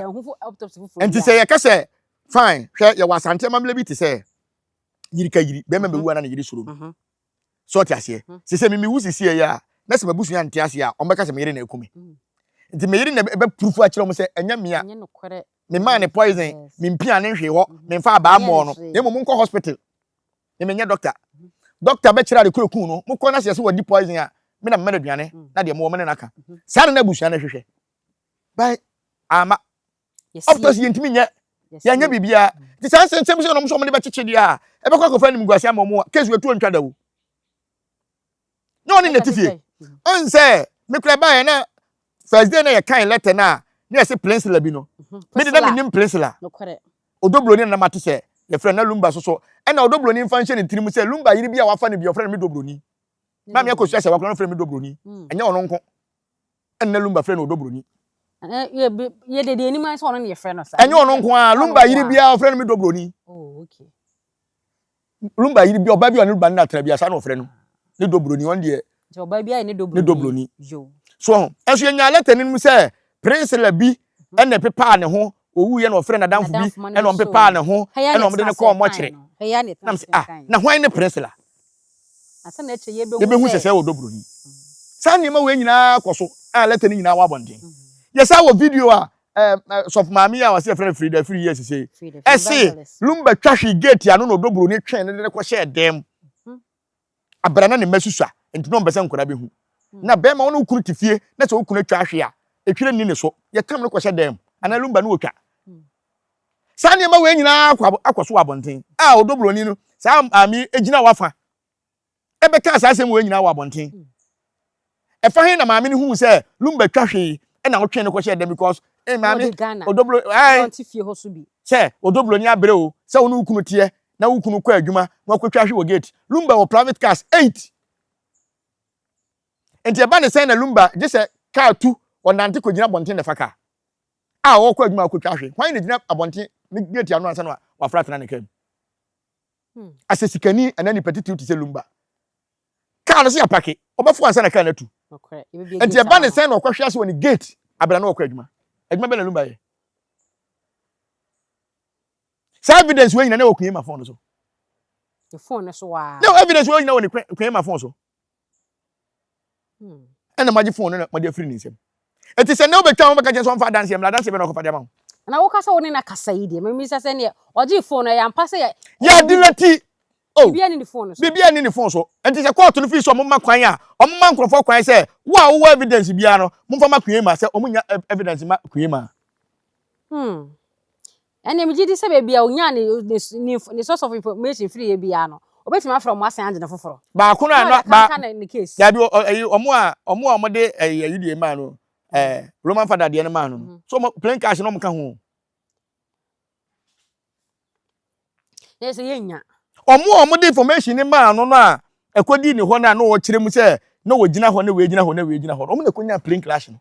nti sɛ yɛka sɛ fine hwɛ yɛwɔ asante amammerɛ bi te sɛ yiri ka yiri bɛrima bɛwu ana ne yiri soro no mhm. So ɔte aseɛ? Hmm. Sɛ sɛ mimi wo sisi ɛyɛ a, na sɛ m'abusua nte aseɛ a, wɔn bɛka sɛ me yere na ɛku me. Hmm. Nti me yere na ɛbɛpurufu akyerɛ wɔn sɛ ɛnyɛ mmea. Memaa ne poison, mempia ne nhwee hɔ, hmm. memfa abaa mmɔɔ no, na mmom nkɔ hospital. Ne menyɛ doctor. Hmm. Doctor bɛkyerɛ ade kura kun no, mokɔ na sɛ sɛ wɔdi poison a, me na mema no aduane, na deɛ mowɔ me ne no aka. Saa na na abusua no hwehwɛ. But ama of course yɛntumi nyɛ yɛnyɛ biribiara nti saa nsɛnsɛm sɛ ɔnom so ɔmde bɛkyekye deɛ a ɛbɛkɔ akɔfa animguase ama ɔmo a case watu ɔntwa da o nyɛ ɔne nɛte fie ɔn sɛ mekura baeɛ na first day na yɛkan letter no a ne yɛse plensela bi no mhm. mede na menim plensela ɔdɔ buroni na mate sɛ yɛfrɛ na lumba so so ɛna ɔdɔ buroni mfa nhyɛ ne tirim sɛ lumba yere bi a wafa no bi ɔfrɛ no me dɔ buroni maame akɔsua sɛ wakora no frɛ me dɔ buroni mm. ɛnyɛ ɔno nko Ɛnnɛ Lumba frɛ no ɔdɔ buroni. Yɛde deɛ anim ayɛ sɛ ɔno na yɛfrɛ no saa. Ɛnyɛ ɔno nko ara, Lumba yiri biara ɔfrɛ no me dɔ buroni. Oh, okay. Lumba yiri bi ɔbaa bi a ɔne Lumba no na tra bi a saa na ɔfrɛ no ne dɔ buroni ɔno deɛ. Nti ɔbaa bi ayɛ ne dɔ buroni. Ne dɔ buroni. So ɛnso yɛnyaa lɛtɛni no mu sɛ Prince Labi ɛna ɛpepaa ne ho Owuiɛ no ɔfrɛɛ n'adamfo bi na ɔmpepaa ne ho na ɔde no kɔɔ mɔkyere. Nam sɛ, ah, na hwan ne Priscilla? Yɛbɛhu sɛsɛɛ wɔ Dobro yi. Saa nneɛma wei nyinaa kɔ so a lɛtɛ no nyinaa wɔ abɔnten. Yɛsaa wɔ video a sɔfo maame yi a wɔse yɛfrɛ no Frida Afiri yɛɛ sesei. Ɛse, Lumba twa hwee geeti ano na Odobroni twee no de no kɔhyɛɛ dan mu. Aber a na ne mba susua ntsi na ɔmmpɛ dɛ nkwadaa behu. Na bɛrima ɔno wo kun tse fie na sɛ wo kun etwa ahwe a, etwer nnyi no so, yɛtam no kɔhyɛ dan mu anaa lumba na otwa. Saa nneɛma wei nyinaa akɔ akɔ so wɔ abɔnten. A Ɔdɔ Buroni no saa maame yi gyinaa w'afã bɛkaa saa asɛm wei nyinaa wɔ abɔnten. Ɛfa he na maame no huu sɛ Lumba twa hwee na ɔtwee no kɔhyɛɛ dɛm because eh Na maame ɔde Ghana odoblo na ae ɔnte fie hɔ so bi. sɛ odoblo ni abrɛ o sɛ wo ne wo kunu teɛ na wo kunu kɔ adwuma na wakɔtwa hwe wɔ gate. Lumba wɔ private cars eight nti ɛba ne sɛn na Lumba gye sɛ car tu ɔnante kɔgyina abɔnten na ɛfa car a ɔrekɔ adwuma akɔtwa hwe. Hwan na gyina abɔnten ne gate ano ansa na wafra atena ne car mu? Hmm. Asɛ sikani anaa nipa titiriw te sɛ Lumba. Kaa no sɛ apake, ɔbɛfo ansa na kaa no atu. Nti ɛba ne sɛn na ɔkɔhwe ase wɔ ne gate abira na ɔkɔ adwuma. Adwuma bɛn na Lumba yɛ? Saa evidence wei nyina na wɔ Kuyema phone no so. Ne phone no so waa. Na evidence wei nyina wɔ ne Kuyema phone so. Hmm. Ɛna magye phone no na mɔde afiri ne nsam. Enti sɛ nnɛ wobɛtwa ho bɛka kyerɛ sɛ ɔmfa adanseɛ mmra, adanseɛ bɛn na ɔkɔfa de ama wo? Na woka sɛ wo ne no akasa yi deɛ, memmisa sɛ ɛnneɛ ɔgyee phone no, ɛyɛ ampa sɛ yɛ. Yɛadelɛti, oh, Biribiara nni ne phone no so. biribiara nni ne phone so. Enti sɛ kɔɔto no firi sɛ wɔmma kwan a, wɔmma nkorɔfoɔ kwan sɛ, wo a wowɔ evidence biara no, momfa ma Kuema sɛ wɔnya evidence mma Kuema. Hmm. Ɛnde megye di sɛ baabi a onyaa ne ne ne source of information firi yɛ biara no, obetumi afrɛ wɔn asan agye no foforo. Baako no a na ba dabi ɛyi wɔn a wɔn a wɔde ɛyi ɛyi deɛ maa no ɛɛ Roman Father deɛ no maa no no so wɔn plain cash na wɔn ka ho. Na yɛ sɛ yɛ nya. Wɔn a wɔde information no maa no no a ɛkɔdii ne hɔ no a na wɔkyerɛ mu sɛ na wɔgyina hɔ na wei gyina hɔ na wei gyina hɔ no wɔn na ɛkɔnya plain cash no.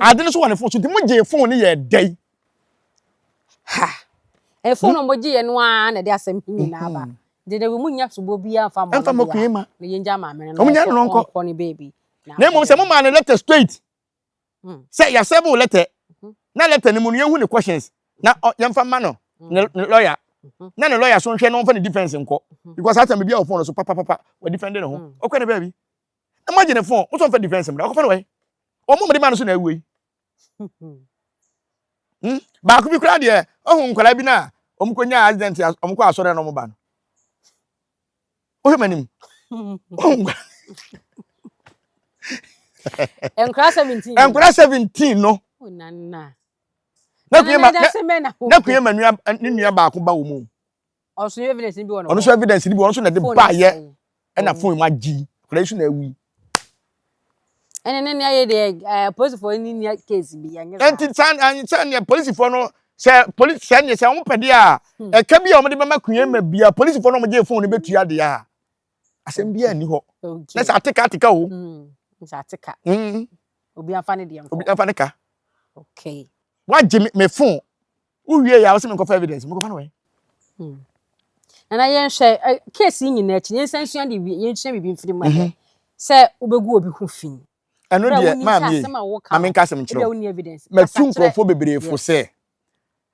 Ade no so wɔ ne fon so nti mo gyee fon no yɛɛ dɛn? Ha! Ɛyɛ fon a wɔn gye yɛ no ara na ɛde asɛm he nyinaa ba. Nti dɛ mo nnya soboɔ biaa mfa mmɔ no bia na yɛngya maame no na ɔnkɔ ne baabi. Na mmom sɛ mo maa no lɛtɛ straight sɛ yɛasɛve wo lɛtɛ na lɛtɛ no mu no yɛnhu ne questions na yɛmfa mma no ne lɔya na ne lɔya so nhwɛ na ɔmfa ne defense nkɔ because saa time biaa wɔ fon no so papapapa wɔ defende ne ho ɔkɔ ne baabi. Imagine phone, wosɔ mfa defense mra, ɔkɔfa no wɛn? Ɔmo mede maa no so na awuo yi. Hmm? Baako bi koraa deɛ, ɔhu nkwadaa bi no a, ɔmo kɔ nyaa accident, ɔmo kɔ asɔre na ɔmo ba no. Wohwɛ m'anim. Ɔhu nkwadaa. Nkwadaa 17. Nkwadaa 17 no. Nana. Na kuyema, na kuyema nua, ne nua baako ba wɔ mu. Ɔno nso evidence bi wɔ no. Ɔno nso evidence bi wɔ no nso na de ba yɛ ɛna phone mu agye yi. Kura yi nso na awi. Ɛne ne nea yɛ deɛ ɛɛ polisifoɔ ni nea case bi yɛ nyɛ saa. Ɛnti saa saa nea polisifoɔ no sɛ polisi sɛ nea sɛ wɔn pɛ deɛ a hmm. ɛka bi a wɔn de bɛma kunyɛ ma bia polisifoɔ no wɔn gye phone no bɛtua deɛ a asɛm bi a nni hɔ. Na sɛ ateka ateka o. Hmm. Sɛ ateka. Hmm. Obi afa ne deɛ nkɔ. Obi afa ne ka. Okay. Wagye me phone. Wo wie yɛ a, wo se me nkɔfa evidence, me kɔfa no wɛn? Hmm. Nana yɛn hwɛ, case yi nyinaa akyi, yɛn nsa nsua de wie, yɛn nsua biribi mfiri mu ɛhɛ. Mhm. Sɛ wobɛgu obi ho fi. Ɛno deɛ, maa mi yɛ, ma me nka asɛm nkyerɛ wo. Matu nkurɔfoɔ bebree fo sɛ,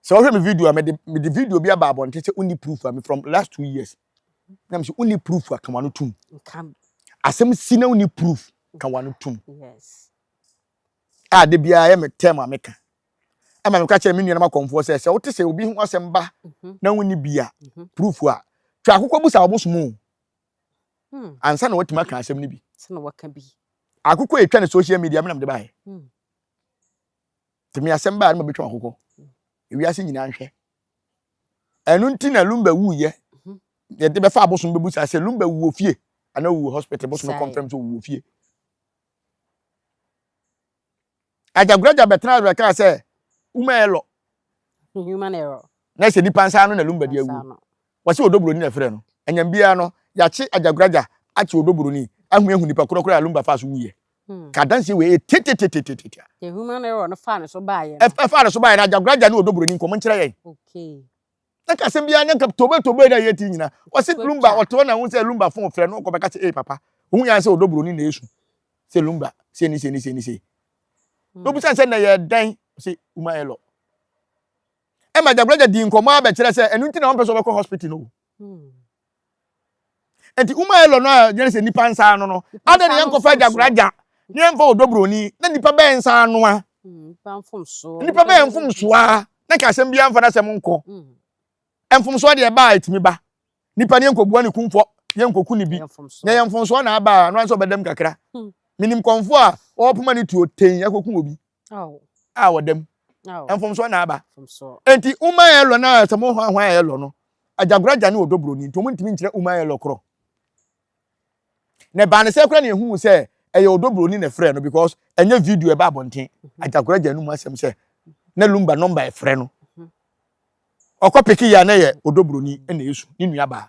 sɛ wɔhwɛ me video a mede mede video bi aba abɔnten sɛ wonni proof a me from last two years na mesɛ wonni proof a ka wano tom asɛm si na wonni proof ka wano tom a da biara ɛyɛ me term a meka ɛma meka kyerɛ me nuanom akɔmfoɔ sɛ sɛ wote sɛ obi ho asɛm ba mhm. na wonni bi a mhm. proof a twa akokɔ bu sa ɔbosom o hmm. ansa na watumi aka asɛm no bi akokɔ ɛtwa ne social media menam de baeɛ hmm. nti me asɛm baa no ma bɛtwa akokɔ hmm. ewiase nyinaa nhwɛ ɛno nti na lumba wuyɛ mhm. yɛde bɛfa abosom bɛbu sa sɛ lumba wuo fie anaa wuo hospital bosom confirm sɛ wuo fie Agyagoragya bɛtenaa so bɛkaa sɛ, Uma error. Human error. Na ɛsɛ nipa nsa ano na Lumba di awu. Wɔse Odoburoni na ɛfrɛ no. Anyam biara no, yɛakye Agyagoragya akye Odoburoni ahu ahu nipa korɔ korɔ a Lumba faa so wuiɛ. Ka adanseɛ wei ɛyɛ tetetetetetea. Deɛ human error no faa ne so baeɛ no. Ɛfaa ne so baeɛ no, Agyagoragya ne Odoburoni nkɔmmɔ nkyerɛ yɛn. Okay. na kasa biara na nka tobe tobe na yɛ ti nyina wɔsi lumba wɔte hɔ na ho sɛ lumba fon frɛ no kɔbɛka sɛ ee papa ohun yɛn sɛ ɔdɔ buroni na esu sɛ lumba sɛ ni sɛ ni sɛ ni sɛ hmm. na obisa sɛ na yɛ dan sɛ uma ɛlɔ ɛma gyagoragya di nkɔmɔ abɛkyerɛ sɛ ɛnu nti na wɔn pɛ sɛ wɔbɛkɔ hospital no hmm. Enti woma yɛ lɔ no a yɛne sɛ nipa nsa ano no, adɛn na yɛnkɔfa agyakoragya na yɛmfa ɔdɔ buroni na nipa bɛyɛ nsa ano a? Nipa bɛyɛ mfomsoɔ a na nka asɛm biara mfa n'asɛm nkɔ. Mfomsoɔ deɛ ɛba a ɛtumi ba. Nipa ne yɛnkɔbua ne kumfɔ, yɛnkɔku ne bi. Na yɛ mfomsoɔ na aba a, no ara sɛ ɔbɛdam kakra. Menim kɔmfoɔ a ɔpoma ne tuo tee akɔku obi. Aw. A wɔ dam. Aw. Mfomsoɔ na aba. Mfomsoɔ. Enti uma yɛlɔ na sɛ mo hwan hwan yɛlɔ no, agyagoragya ne ɔdɔ buroni nti wɔn ntumi nkyerɛ uma yɛlɔ korɔ. Na ɛbaa ne sɛ koraa na yɛhuu sɛ ɛyɛ ɔdɔ buroni na ɛfrɛ no because ɛnyɛ video ɛba abɔnten. Mhm. Agyagoragya no mu asɛm sɛ na lumba nɔmba ɛfrɛ no. Mhm. Ɔkɔ peke yɛ a na yɛ ɔdɔ buroni na ɛsu ne nuabaa.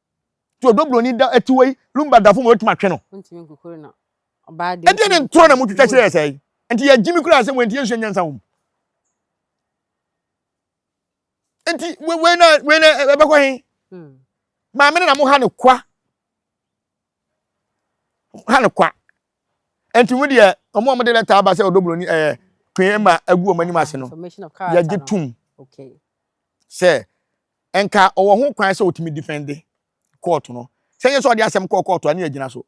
Ti ɔdɔ buroni da atiwa yi lumba dafo ma otumi atwe no. Ontumi nkukuru na ɔbaa de. Ɛdeɛ ne ntorɔ na motwitwa kyerɛ yɛ sɛe? Nti yɛgye me koraa sɛ wɔnti yɛnsua nyansa wɔ mu. Nti wei na wei na ɛbɛkɔ he? Maame no na moha no kwa. ha no kwa nti mu deɛ wɔn a wɔde lɛta aba sɛ ɔdɔ buroni ɛɛ eh, kpee ma agu wɔn anim ase no yɛgye tum sɛ nka ɔwɔ ho kwan sɛ ɔtumi difɛnde kɔɔto no sɛ nyɛ sɛ ɔde asɛm kɔɔ kɔɔto a ne yɛgyina so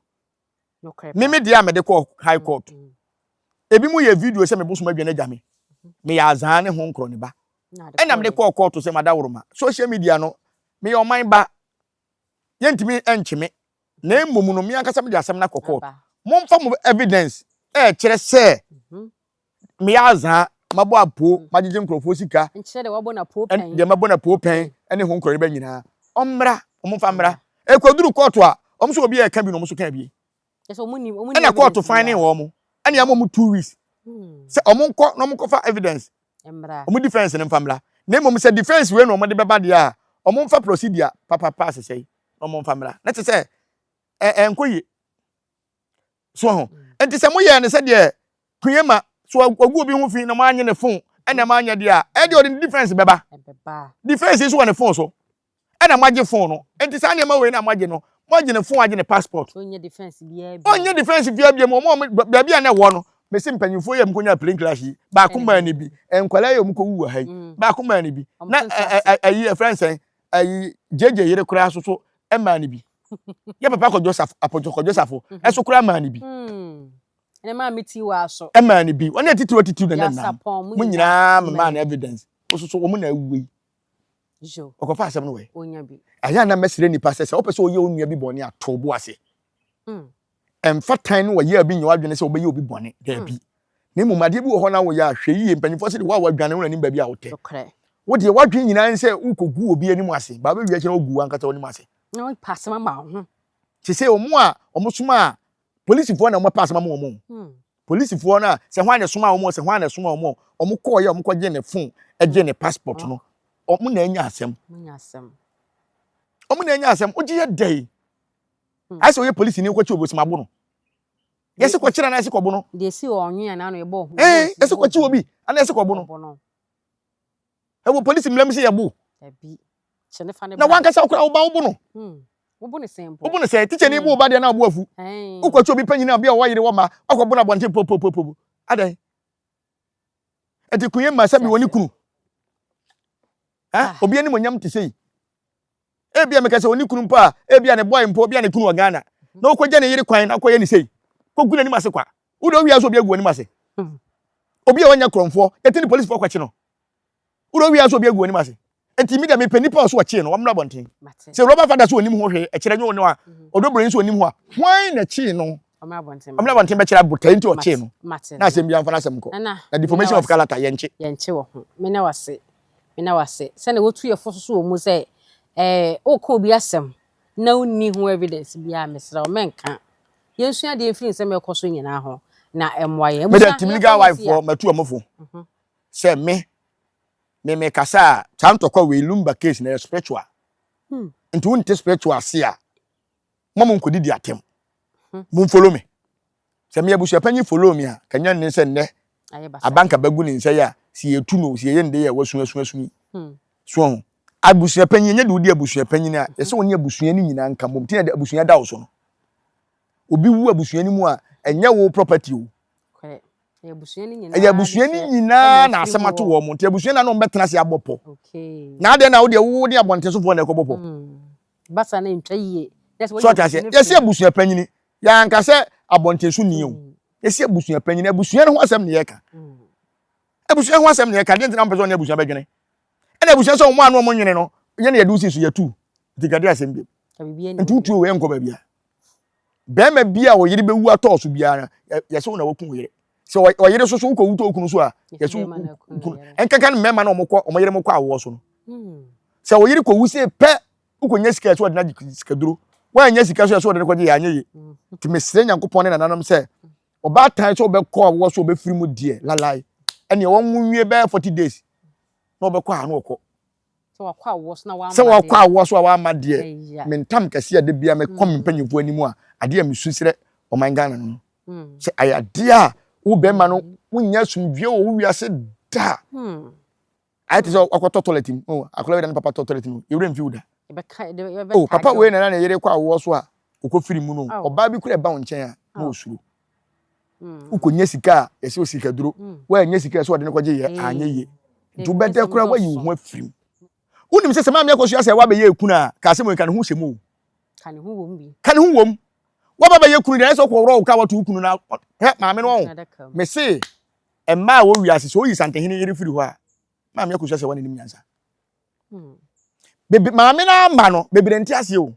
meme deɛ a mede kɔɔ high court mm, mm. ebi mu yɛ video sɛ mebosom adwa no agya me meyɛ azaa ne ho nkorɔ ne ba ɛna mede kɔɔ kɔɔto sɛ mada woroma social media no meyɛ ɔman ba yɛntumi nkye me, na mmom no me ankasa mede asɛm no akɔ court. Momfa mo evidence ɛkyerɛ sɛ meyɛ azaa, mabɔ apoo, magyegye nkurɔfoɔ sika, nkyerɛ deɛ wabɔ no apoo pɛn, deɛ mabɔ no apoo pɛn ne ho nkorɔyeba nyinaa. Ɔmmra, ɔmfa mmra. Ɛkɔduru court a, ɔmo so obi ɛka bi na ɔmo so ka bi. ɛna kɔɔto fan ne wɔn ɛna ama wɔn two weeks hmm. sɛ wɔn nkɔ na wɔn nkɔfa evidence wɔn defence no nfa mmra na mmom sɛ defence wei na wɔn de bɛba deɛ a wɔn nfa procedure papapa asesɛ yi na wɔn nfa mmra na te sɛ ɛɛ eh, nkɔ yie so ho hmm. nti sɛ mo yɛ ne sɛ deɛ kunyɛ ma so ogu obi ho fi na mo anye ne phone ɛna mo anya deɛ a ɛdeɛ ɔde defence bɛba defence yi so wɔ ne phone so. ɛna moagye fon no nti saa nneɛma wei na moagye no moagye ne fon agye ne passport ɔnyɛ defense biara bi ɔnyɛ defense biara bi mu ɔmo ɔmo baabi a na ɛwɔ no mesi mpanyinfoɔ yɛ mko nya plane crash yi baako maa ne bi nkwadaa yɛ ɔmo kɔ wu wɔ ha yi mm. baako maa ne bi na ayi ɛfrɛ nsɛn ayi gyegye yere koraa soso ɛmaa ne bi yɛ papa kɔ joseph apɔtɔ kɔ joseph mhm. ɛso koraa maa ne bi. Mm. ɛnna maa mi ti wa so. ɛmaa ne bi wɔn yɛ titiriw titiriw na ne nam mo nyinaa mmaa na evidence ososo wɔn na awie. Yo. Ɔkɔfa asɛm no wɛ. Onya bi. Ɛyɛ na mɛsrɛ nipa sɛ sɛ wopɛ sɛ ɔyɛ onua bi bɔne a tɔ bo ase. Mm. Ɛmfa tan no wɔyɛ bi nyɛ wadwene sɛ ɔbɛyɛ obi bɔne. Daabi. Mm. Na mmom adeɛ bi wɔ hɔ na woyɛ a hwɛ yie mpanyinfoɔ sɛ de wo a wadwane wo nanim baabi a wotɛ. Nokorɛ. Wo deɛ wadwene nyinaa ne sɛ wokɔgu obi anim ase. Baa bɛwie akyɛ na wogu wankasa w'anim ase. Na wopa asɛm ama wo ho. Te sɛ wɔn a wɔsoma a polisifoɔ na wɔn pa asɛm ama wɔn hmm. polisifoɔ no a sɛ hwan na ɛsoma wɔn sɛ hwan na ɛsoma wɔn wɔn kɔɔ yɛ wɔn kɔ gye ne phone gye ne passport no wɔn na anya asɛm wɔn na anya asɛm wogye yɛ dɛ yi hmm. ayɛ sɛ ɔyɛ polisi ni kɔkye obosim abo no yɛsi kɔkye na yɛsi kɔbo no deɛ si wɔ ɔnwea na ano yɛ bɔ ɔho ɛɛ yɛsi kɔkye obi ana yɛsi kɔbo no Ɛwɔ polisi mmara mu sɛ yɛbo. Dabi. Kyɛ ne fa ne bra. Na wankasa wokora wo ba wobo no. Hmm. Wobo ne sɛn mpo. Wobo ne sɛn. Tikya ni hmm. bo wo ba deɛ na ɔbo afu. Wokɔkye obi panyin a obi a ɔwɔ yere wɔ ma ɔkɔ bo no abɔnten popopopo. Adɛn? Ɛti kun yɛ mma sɛ bi wɔ ne kunu. Ah. Obi anim onyam te sɛ yi. ebia meka sɛ ɔne kunu mpo a ebia ne bɔe mpo ebia ne kunu wɔ Ghana na ɔkɔgya ne yere kwan na ɔkɔyɛ ne sei kɔgu n'anim ase kwa wode ɔwia so obi agu anim ase hmm. obi a ɔnyɛ korɔmfoɔ yɛte ne polisifoɔ kɔkye no wode ɔwia so obi agu anim ase nti mi deɛ mepɛ nipa a ɔso ɔkyee no wɔmmra bɔnten sɛ rɔba fada so onim ho hwee ɛkyerɛ nyɛ ɔno a ɔdɔbroni mhm. so onim ho a hwan na kyee no ɔmmra bɔnten bɛkyerɛ abotae nti ɔkyee no na asɛm bi amfa no asɛm kɔ na deformation of character yɛnkye yɛnkye wɔ ho me na wase Meda wo ase sɛnea wotu yɛfo so so wɔ mu sɛ eh, woka obi asɛm na wonni ho evidence biara. Mesrɛ wo, mɛnka. Yɛnsua adeɛ mfiri nsɛm a ɛkɔ so nyinaa ho na ɛmmoa yɛn. Mede Abusua, Timley yɛnkɔ wife Hosea. hɔ matu ɔmo fo Mhm. sɛ me me me kasa a saa ntɔkwa wei lumba case na ɛyɛ spiritual Hmm. nti wonte spiritual ase a Mo mo nkɔdidi atɛm. Mo follow me. Sɛ meyɛ abusuapanyin follow me a, ka nya nne sɛ nnɛ abanka bɛgu ne nsa yi a, sɛ yɛtu no, sɛ yɛyɛ ne dɛ a, wasu asu asu yi. Hmm. So ho. Abusuapanyin, ɛnyɛ de wodi abusuapanyin a, yɛsɛ wɔne abusua no nyinaa nka mmom. Nti na abusua da wo so no. Obi wu abusua no mu a, ɛnyɛ wo property o. Ɛyɛ abusua no nyinaa. Ɛyɛ abusua no nyinaa na asɛm ato wɔn. Nti abusua na na wɔn bɛtena ase abɔ pɔ. Na adɛn na wo deɛ wo ne abɔntensofoɔ na ɛkɔbɔ pɔ? Hmm. Basa no ntwa yie. So ɔte aseɛ yɛsi abusua panyini yɛanka sɛ abɔntenso ni o mm. yɛsi abusua panyini abusua no ho asɛm na yɛka mm. abusua ho asɛm na yɛka deɛ ntina mpɛ sɛ ɔne abusua bɛdwene ɛna abusua sɛ ɔmo ano ɔmo nwene no yɛne yɛde wosi so yɛtu nti kade asɛm bi nti wotuo wei nkɔ baabi a bɛrima bi a ɔyere bɛwu atɔɔ so biara no yɛsɛ wo na waku yere sɛ ɔyere so so wokɔwu tɔ okunu so a yɛsɛ wokunu ɛnkɛka no mmarima na ɔmokɔ ɔmo yere mokɔ awoɔ so no hmm. sɛ ɔyere kɔwu se pɛ wokɔnya sika ɛsɛ ɔde no agye sikaduro woanya sika so ɛsɛ ɔde no kɔgye yɛ anyɛ ye hmm. nti mesrɛ nyankopɔn ne nananom sɛ ɔbaatan sɛ ɔbɛkɔ awoɔ so ɔbɛfiri mu deɛ lalae ɛneɛ wɔnwo nwie bɛyɛ 40 days na ɔbɛkɔ ano ɔkɔ Sɛ wakɔ awoɔ so na wamma deɛ. Sɛ wakɔ awoɔ so a wamma deɛ. Ɛya. Me ntam kɛse a da biara mekɔ me mpanyinfoɔ anim a adeɛ a mesu srɛ ɔman Ghana no no. Sɛ ayɛ adeɛ a wo bɛrima no wonnya asomdwie wɔ wo wiase da. Ayɛ te sɛ wakɔtɔ toilet mu. Oh, akwadaa wei na ne papa tɔ toilet mu. Yɛwerɛ mfi wo da. Ɛbɛka ɛde ɛbɛka. Oh, papa wei na na ne yere kɔ awoɔ so a ɔkɔ firi mu no. Ɔbaa bi kura ɛba wo nkyɛn a na ɔsuro. Mm. Wokɔnya sika a ɛsɛ osikaduro. Mm. Woanyɛ sika ɛsɛ ɔde no kɔgye yɛ anyɛ yie. Nti wobɛdɛ koraa woayi wo ho afiri mu. Wonim sɛ sɛ maame akɔsua sɛ woabɛyɛ ekunu a ka asɛm yi ka ne ho hyɛ mu o. Ka ne ho wom bi. Ka ne ho wom. Woaba bɛyɛ kunu deɛ ɛsɛ ɔkɔworɔ wo ka wato wo kunu na hɛ maame no ɔho. Mese mmaa a wɔwia ase sɛ oyi santehene yere firi hɔ a maame akɔsua sɛ wɔn anim nyansa. Bebe maame no ama no bebree nte aseɛ o.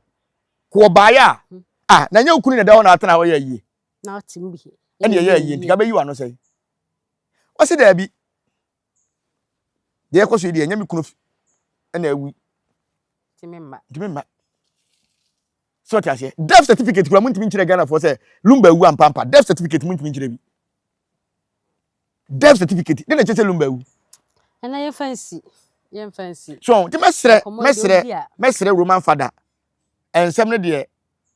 Ko ɔbaeɛ a hmm. ah na nyɛ okunu na ɛda hɔ na atena hɔ yɛ ayie. Na ɔte mu bi. Ɛna ɛyɛ ayie nti kabɛyi wano sɛn. Wɔsi daabi. Deɛ ɛkɔ so yi deɛ ɛnyɛ me kunu ɛna awi. Ntumi mma. Ntumi mma. So ɔte aseɛ? Death certificate kura muntumi nkyerɛ Ghana foɔ sɛ Lumba awu ampa ampa. Death certificate muntumi nkyerɛ bi. Death certificate de na ɛkyerɛ sɛ Lumba awu. Ɛna yɛmfa nsi, yɛmfa nsi. So nti mɛsrɛ, mɛsrɛ, mɛsrɛ Roman Father, ɛnsɛm no deɛ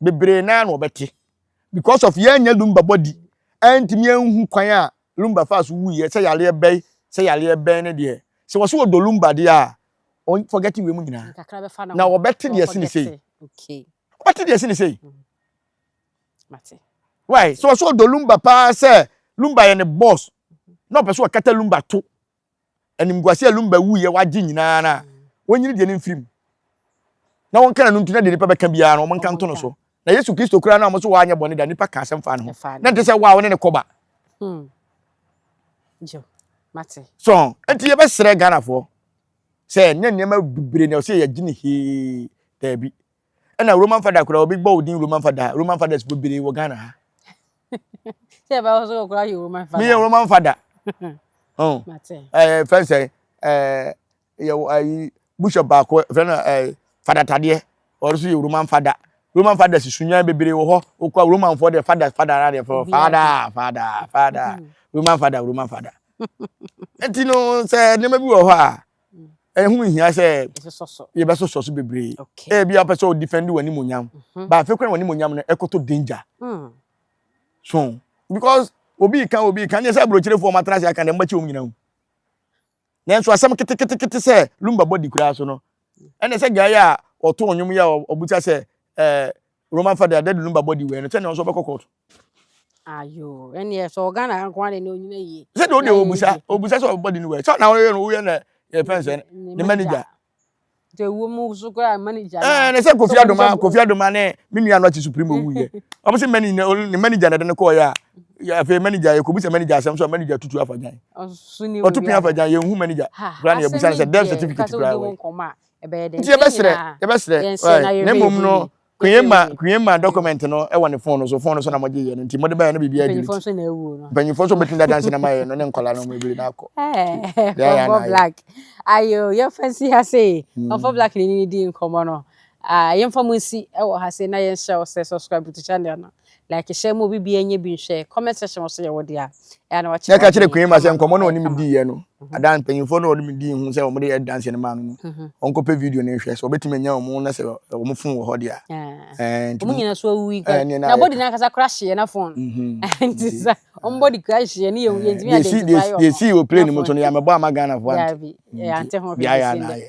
bebree naa na ɔbɛte because of yɛnyɛ Lumba body, ɛntumi ɛnhu kwan a Lumba faa so wuiɛ, sɛ yareɛ bɛn, sɛ yareɛ bɛn ne deɛ. Sɛ wɔso wɔdɔ Lumba deɛ a, wɔn forgetting wei mu nyinaa na wɔbɛte deɛ ɛsi ne sei wɔbɛte deɛ ɛsi ne sei why so ɔsɛ ɔdɔ lumba paa sɛ lumba yɛ ne boss na ɔpɛ sɛ ɔkata lumba to animguase a lumba wuyɛ wagye nyinaa na wɔnyini deɛ ne mfiri mu na wɔnka na no nti na deɛ nipa bɛka biara no wɔnka nto no so Na Yesu Kristo koraa na wɔn so wanyɛ bɔne da nnipa ka asɛm faa ne ho. Na nte sɛ wo a wo ne ne kɔba. Hmm. So, nti yɛbɛsrɛ Ghanafoɔ sɛ nyɛ nneɛma bebree na ɔsɛ yɛgye ne hee daabi. Ɛna Roman Fada koraa obi bɔ wo din Roman Fada Roman Fadas bebree wɔ Ghana ha. Sɛ ɛbɛwɔ so wɔ koraa yɛ Roman Fada. Meyɛ Roman Fada. Ɛɛ fɛn sɛ ɛɛ yɛwɔ ayi bishop baako fɛ no ɛɛ fada tadeɛ ɔno nso yɛ roman fada roman fada si sunyan bebree wɔ hɔ okɔ roman fɔ deɛ fada fada ara deɛ fɔ fada fada fada roman fada roman fada nti no sɛ nneɛma bi wɔ hɔ a ɛho hia sɛ yɛbɛsosɔ so bebree ebi apɛ sɛ ɔdifɛndi wɔn animonyam baafe kwan wɔn animonyam no ɛkɔtɔ danger so because obi kan obi kan yɛ sɛ aburokyerefo wɔn atena ase aka na ɛmɛ kyɛ wɔn nyinaa nanso asɛm keteketekete sɛ lumba bɔ di koraa so no ɛne sɛ gyae a ɔto nnwom yɛ a ɔbuta sɛ ɛɛ roman fada dɛde lumba bɔ di wei no sɛ ne ɔnso ɔbɛkɔ kɔɔto ayo ɛneɛ sɛ ɔghana nkoa de ne ɔnyina yie sɛ deɛ ɔdeɛ ɔbusa ɔbusa sɛ ɔbɔ di ne wei sɛ na ɔyɛ no woyɛ na yɛfɛn sɛ ne manager deɛ ɛwɔ mu so koraa manager no ɛɛ ne sɛ kofi adoma kofi adoma ne me nua no akyi supreme owu yɛ ɔmo sɛ mani ne manager na ɛde ne kɔɔ yɛ a afei manager yɛ kɔbu sɛ manager asɛm so a manager tutu afa gyan ɔto pin afa gyan yɛn hu manager koraa na yɛbusa no sɛ death certificate koraa wɔ nti yɛbɛsrɛ yɛbɛsrɛ na mmom no Kweema Kweema document no wɔ ne phone no so phone no so na mo gye yɛ no nti mo de bɛyɛ no biribi adi mpanyinfoɔ nso na awuo no mpanyinfoɔ nso bɛtumi dada nse na ma yɛ no ne nkɔla no mo ebiri na akɔ fɔfɔ black ayo yɛmfa nsi ha se fɔfɔ hmm. black ne ne di nkɔmɔ no ah, yɛmfa mo nsi wɔ ha se na yɛnhyɛ wo sɛ subscribe to channel no like hyɛ mu obi bia nyɛ bi nhwɛ comment section wɔ so yɛ wo dea ɛa na wakyerɛ na ɛka kyerɛ kwan ma sɛ nkɔmmɔ na ɔnim diiɛ no mhm. adan mpanyimfoɔ na ɔnim dii ho sɛ wɔde yɛ danse no maa no no mhm. ɔnkɔpɛ video no nhwɛ sɛ ɔbɛtumi anya wɔn na sɛ wɔn fon wɔ hɔ dea eh. wɔn nyina so awu yi eh, na bɔdi no ankasa kora hyeɛ na fon mhm. eh, nti sɛ wɔn bɔdi kora hyeɛ ne yɛntumi adansi deɛ sii wɔ plane mu nso no yɛamɛbɔ ama ghanafoɔ ante ho hwɛ deɛ ayɛ na ayɛ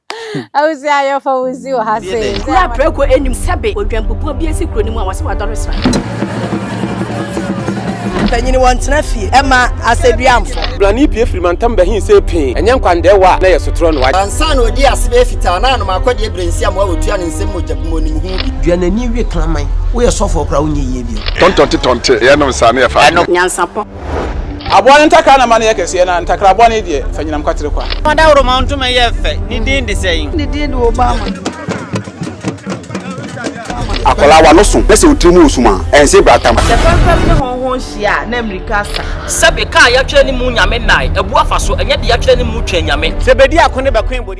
Awusi ayɔfo wusi wɔ ha sei. Kura prɛko anim sɛbe odwanpopua bi asi kuro no mu a wɔse wadɔre srae. Mpanyini wɔntena fie ɛma asɛduamfo. Brane pue firi mantam bɛhe sei pee, ɛnyɛ nkwandɛɛwa a na ɛyɛ sotorɔ no. Ansa na ɔdii ase bɛyɛ fitaa na anom akɔdeɛ berɛnsiam a ɔtua ne nsam mogya bu mu ɔnim ho bi. Dua n'ani we kraman. Woyɛ sɔfoɔ koraa wonyɛ yie bio. Tɔntɔnte tɔnte yɛnom saa na yɛfa adwene. Nyansapɔ. Aboa no ntakra na ɛma no yɛ kɛseɛ, na ntakra bɔne deɛ, ɛfa anyinam kwatere kwa. Fa dawuroma ntoma yɛ fɛ, ne din de sɛn? Ne din de Obama. Akwadaa wa no so na sɛ otiri mu wɔ sum a, ɛnse bra tam. Sɛ fɛmfɛm ne hɔnho nhyia a, na mmirika asa. Sɛbe kaa yɛatwerɛ ne mu Nyame nnae, abu afa so, ɛnyɛ deɛ yɛatwerɛ ne mu twɛn Nyame. Sɛbɛdi ako ne bɛkoe bɔdi.